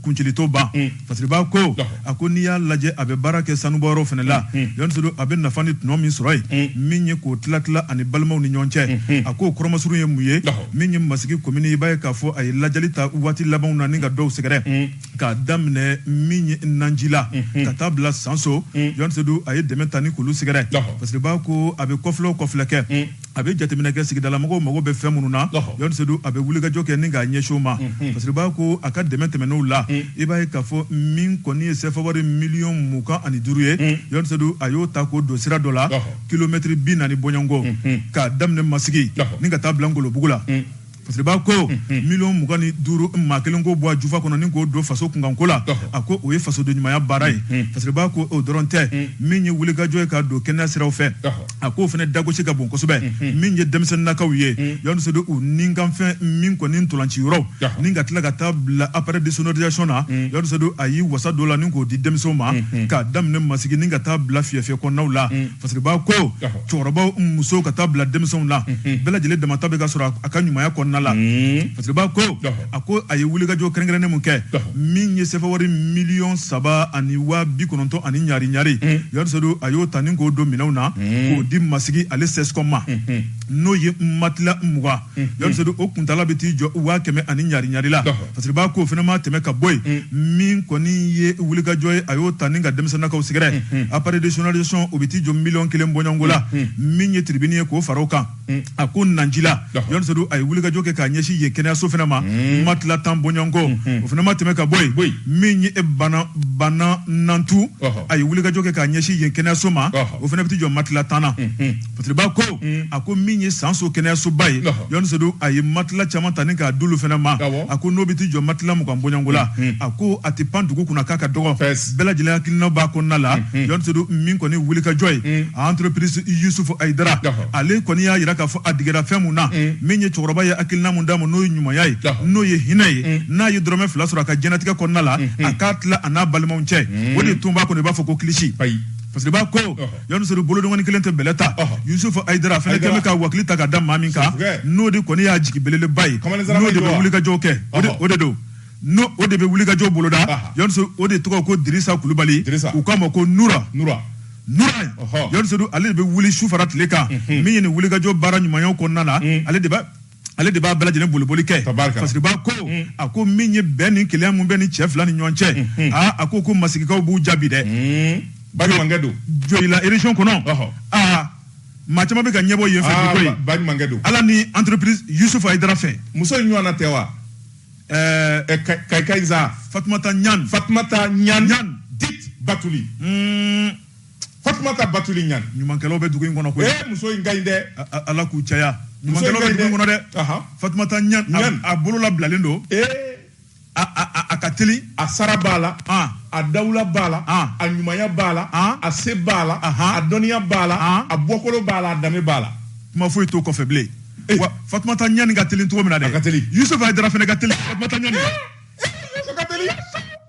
S2: kuncili t'o ban Fasiriba ko a ko n'i y'a lajɛ a bɛ baara kɛ sanubɔyɔrɔ fana la Yɔni Sedu a bɛ nafa ni tɔnɔ min sɔrɔ yen min ye k'o tila tila ani balimaw ni ɲɔgɔn cɛ a ko kɔrɔ masurun ye mun ye min ye masigi komini i b'a ye k'a fɔ a ye ladiyali ta waati labanw na ni ka dɔw sɛgɛrɛ k'a daminɛ min ye Nanjila ka taa bila sanso Yɔni Sedu a ye dɛmɛ ta ni k'olu sɛgɛrɛ Fasiriba ko a bɛ kɔfilɛ o kɔfilɛ kɛ a bɛ jateminɛ kɛ sigidalamɔgɔw mago bɛ fɛn minnu na Yɔni Sedu a bɛ wulikajɔ kɛ ni k'a ɲɛsin o ma Fasiriba ko a ka dɛmɛ tɛmɛnenw la i b'a ye k'a fɔ min kɔni ye sɛfawari miliyɔn mugan ani duuru ye Yɔni Sedu a y'o ta k'o don sira dɔ la kilomɛtiri bi naani bɔɲɔgɔnko k'a daminɛ Masigi ni ka taa bila Ngolobugu la. Fasiriba ko miliyɔn mugan ni duuru maa kelen k'o bɔ a jufa kɔnɔ ni k'o don faso kunkanko la a ko o ye fasoden ɲumanya baara ye Fasiriba ko o dɔrɔn tɛ min ye wulikajɔ ye k'a don kɛnɛya siraw fɛ a k'o fana dagosi ka bon kosɛbɛ min ye denmisɛnninakaw ye Yɔni Sedu u nikanfɛn min kɔni ntolaci yɔrɔ ni ka tila ka taa bila appareil de sonorisation na Yɔni Sedu a y'i wasa don o la ni k'o di denmisɛnw ma k'a daminɛ masigi ni ka taa bila fiyɛfiyɛ kɔnɔnaw la Fasiriba ko cɛkɔrɔbaw musow ka taa bila denmisɛnw la bɛɛ lajɛlen damata bɛ ka sɔrɔ a ka ɲumanya kɔnɔna la parce que b'a ko a ko a ye wulikajɔ kɛrɛnkɛrɛnnen min kɛ min ye sɛfa wari miliyɔn saba ani waa bi kɔnɔntɔn ani ɲari ɲari yarisodu a y'o ta ni k'o don minɛnw na k'o di masigi ale CSCOM ma n'o ye matila mugan yɔrɔsodi o kuntala bɛ t'i jɔ waa kɛmɛ ani ɲari ɲari la parce que b'a ko o fana ma tɛmɛ ka bɔ yen min kɔni ye wulikajɔ ye a y'o ta ni ka denmisɛnninkaw sɛgɛrɛ appareil de sonorisation o bɛ t'i jɔ miliyɔn kelen bɔɲɔgɔnko la min ye tiribini ye k'o fara o kan a ko nancila yɔrɔsodi a ye wulikajɔ kɛ k'a ɲɛsin yen kɛnɛyaso fana ma matila tan bɔɲɔgɔnko o fana ma tɛmɛ ka bɔ yen bɔ min ye bana banna nantu a ye wulikajɔ kɛ k'a ɲɛsin yen kɛnɛyaso ma o fana bɛ t'i jɔ matila tan na Parce que b'a ko a ko min ye sanso kɛnɛyasoba ye yɔnnidu a ye matila caman ta ni k'a d'olu fana ma a ko n'o bɛ t'i jɔ matila mugan bɔɲɔgɔnko la a ko a tɛ pan dugu kunna k'a ka dɔgɔ bɛɛ lajɛlen hakilina b'a kɔnɔna la yɔndu min kɔni wulikajɔ ye a entreprise yusufu ayidara ale kɔni y'a jira k'a fɔ a digira fɛn min na min ye cɛkɔrɔba ye hakilina min d'a ma n'o ye ɲumanya ye n'o ye hinɛ ye n'a ye dɔrɔnmɛ fila sɔrɔ a ka diɲɛnatigɛ kɔnɔna la a k'a tila a n'a balimaw cɛ o de tun b'a kɔnɔ i b'a fɔ ko kilisi parce que b'a ko Yanusri bolodɔngɔni kelen tɛ bɛlɛ ta yusufu ayidara fana kɛlen bɛ ka wakili ta ka da maa min kan n'o de kɔni y'a jigi belebeleba ye n'o de bɛ wulikajɔ kɛ o de don n'o de bɛ wulikajɔ boloda yansu o de tɔgɔ ko dirisa kulubali u k'a ma ko nura nura yansu ale de bɛ wuli su fara tile kan min ye nin wulikajɔ baara ɲumanyaw kɔnɔna na ale de ale de b'a bɛɛ lajɛlen boliboli kɛ parce que b'a ko mm. a ko min ye bɛn ni kelenya mun bɛ ni cɛ fila ni ɲɔgɔn cɛ mm-hmm. aa a ko ko masigikaw b'u jaabi dɛ mm. baɲumankɛ don
S1: joyila région kɔnɔ
S2: aa maa caman bɛ ka ɲɛbɔ yen fɛ ah, ko ye baɲumankɛ don ala
S1: ni
S2: entreprise yusufu ayidara fɛ muso in ɲɔgɔnna tɛ
S1: wa ɛɛ eh, eh, kayikayiza fatumata ɲan
S2: fatumata ɲan dit
S1: batuli mm. Fatumata batuli ɲan ɲumankɛlaw bɛ dugu in
S2: kɔnɔ koyi ee muso in ka ɲi
S1: dɛ ala k'u
S2: caya ɲumankɛlaw bɛ dugu in kɔnɔ dɛ Fatumata ɲan a bolo labilalen don ee a ka teli a sara b'a la
S1: a dawula b'a la a ɲumanya b'a la a se b'a la a dɔnniya b'a la a bɔkolo b'a la a danbe b'a la kuma foyi t'o
S2: kɔfɛ bilen wa Fatumata ɲani ka teli cogo min na dɛ a ka teli Yusufu Hayidara
S1: fana ka teli
S2: Fatumata ɲani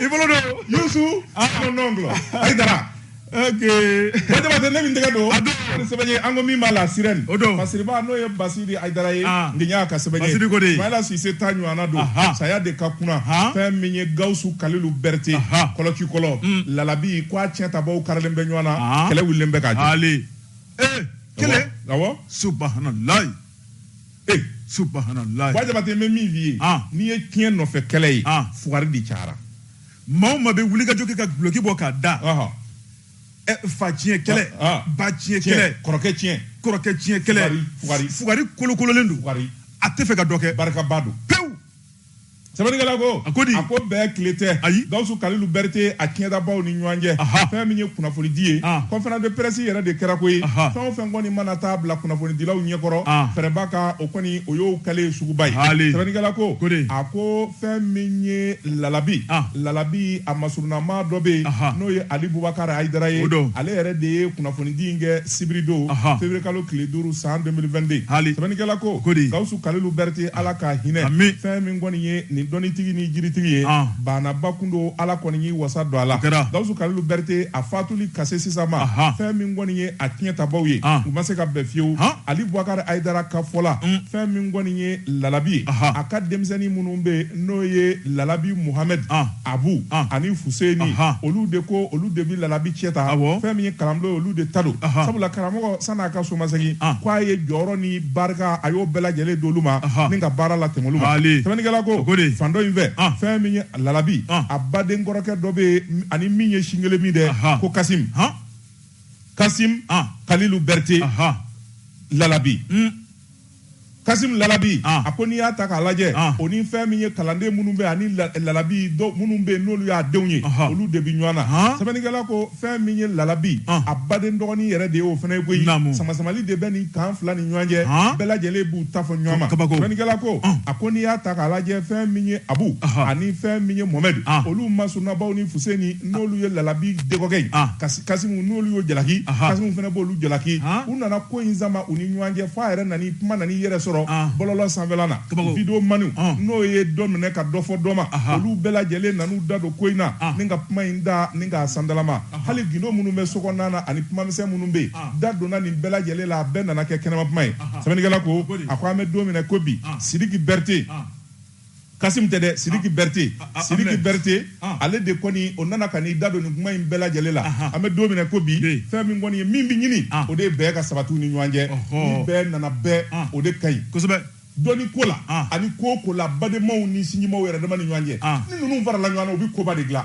S2: i bolo don
S1: yusufu mon oncle ayidara ba jabate ne min tɛgɛ don a don sɛbɛn ye an ko min b'a la sirɛni o don basiriba n'o ye basiri ayidara ye ndiɲa ka sɛbɛn ye basiri ko de ye mayɛlɛ sise ta ɲɔgɔnna don saya de ka kunna fɛn min ye gawusu kalilu berete kɔlɔki kɔlɔ lalabi ko a tiɲɛ tabaw karilen bɛ ɲɔgɔn na kɛlɛ wulilen bɛ ka jɔ
S2: kelen awɔ
S1: subahanalayi ee subahanallahi wa jabate n bɛ min f'i ye Ah. n'i ye tiɲɛ nɔfɛ kɛlɛ ye Ah. fugari de cayara
S2: maa o maa bɛ wulikajɔ kɛ ka duloki bɔ k'a da Ɔhɔ. ɛ, fa tiɲɛ kɛlɛ Ah, ah. ba tiɲɛ kɛlɛ kɔrɔkɛ tiɲɛ kɛlɛ Fugari, fugari. fugari kolokololen don fugari a tɛ fɛ ka dɔ kɛ barikaba don pewu
S1: sɛbɛnnikɛla ko a ko di a ko bɛn
S2: tile
S1: tɛ ayi gawusu
S2: kalilu
S1: bɛrite a tiɲɛtabaw ni ɲɔgɔn cɛ fɛn min ye kunnafonidi ye conférence de presse yɛrɛ de kɛra koyi fɛn o fɛn kɔni mana taa bila kunnafonidilaw ɲɛkɔrɔ fɛrɛba kan o kɔni o y'o kɛlen suguba ye sɛbɛnnikɛla ko a ko fɛn min ye lalabi lalabi a masurunama dɔ bɛ yen n'o ye ali bubakari ayidara ye ale yɛrɛ de ye kunnafonidi in kɛ sibiridon feburuye kalo tile duuru san 2022 sɛbɛnnikɛla ko gawusu kalilu bɛrite ala ka hinɛ Ami. fɛn min kɔni ye nin dɔnnitigi ni jiritigi ye Ah. banaba kun don ala kɔni y'i wasa don a la Kɛra. gawusu kalilu bɛrite a fatuli ka se sisan ma Aha. fɛn min kɔni ye a tiɲɛtabaw ye Ah. u ma se ka bɛn fiyewu Ah. ali bubakari ayidara ka fɔ la Mm. fɛn min kɔni ye lalabi ye Aha. a ka denmisɛnnin minnu bɛ yen n'o ye lalabi muhamɛd Ah. abu Ah. ani fuseni Aha. olu de ko olu de bɛ lalabi tiɲɛ ta Awɔ. fɛn min ye kalanbulon ye olu de ta don Aha. sabula karamɔgɔ san'a ka somasegin Ah. ko a ye jɔyɔrɔ ni barika a y'o bɛɛ lajɛlen d'olu ma ni ka baara latɛmɛ olu ma sɛbɛnnikɛla ko fan dɔ in fɛ fɛn min ye lalabi a baden kɔrɔkɛ dɔ bɛ a ni min ye sin kelen min dɛ ko kasim kasim kalilu berete lalabi hmm. kasim lalabi a ko n'i y'a ta k'a lajɛ o ni fɛn min ye kalanden minnu bɛ ani lalabi minnu bɛ yen n'olu y'a denw ye olu de bɛ ɲɔgɔn na sɛbɛnnikɛla ko fɛn min ye lalabi ah. a baden dɔgɔnin yɛrɛ de ye o fana ye koyi samasamali de bɛ nin fan fila ni ɲɔgɔn cɛ ah. bɛɛ lajɛlen b'u ta fɔ ɲɔgɔn ma sɛbɛnnikɛla ko ah. a ko n'i y'a ta k'a lajɛ fɛn min ye abu ani fɛn min ye mohamɛdi olu masurunabaw ni fuseni n'olu ye lalabi dɔgɔkɛ ye kasimu n'olu y'o jalaki kasimu fana b'olu jalaki u nana ko in sama u ni ɲɔgɔn cɛ f'a yɛrɛ nana kuma nan'i yɛrɛ sɔrɔ bɔlɔlɔ sanfɛla na videomanw n'o ye dɔ minɛ ka dɔ fɔ dɔ ma olu bɛɛ lajɛlen nan'u da don ko in na ni ka kuma in da ni k'a sandalama hali gindo minnu bɛ sokɔnɔna na ani kumamisɛn minnu bɛ yen da donna nin bɛɛ lajɛlen la a bɛɛ nana kɛ kɛnɛma kuma ye sɛbɛnnikɛla ko a ko an bɛ don min na ko bi sidiki bɛrite kasim tɛ dɛ sidiki bɛrite sidiki bɛrite ale de kɔni o nana ka n'i da don nin kuma in bɛɛ lajɛlen la an bɛ don min na ko bi fɛn min kɔni ye min bɛ ɲini o de ye bɛn ka sabati u ni ɲɔgɔn cɛ ni bɛn nana bɛn o de ka ɲi kosɛbɛ dɔnni ko la ani ko ko la badenmaw ni sinjimaw yɛrɛ dama ni ɲɔgɔn cɛ ni ninnu farala ɲɔgɔn na u bɛ koba de dilan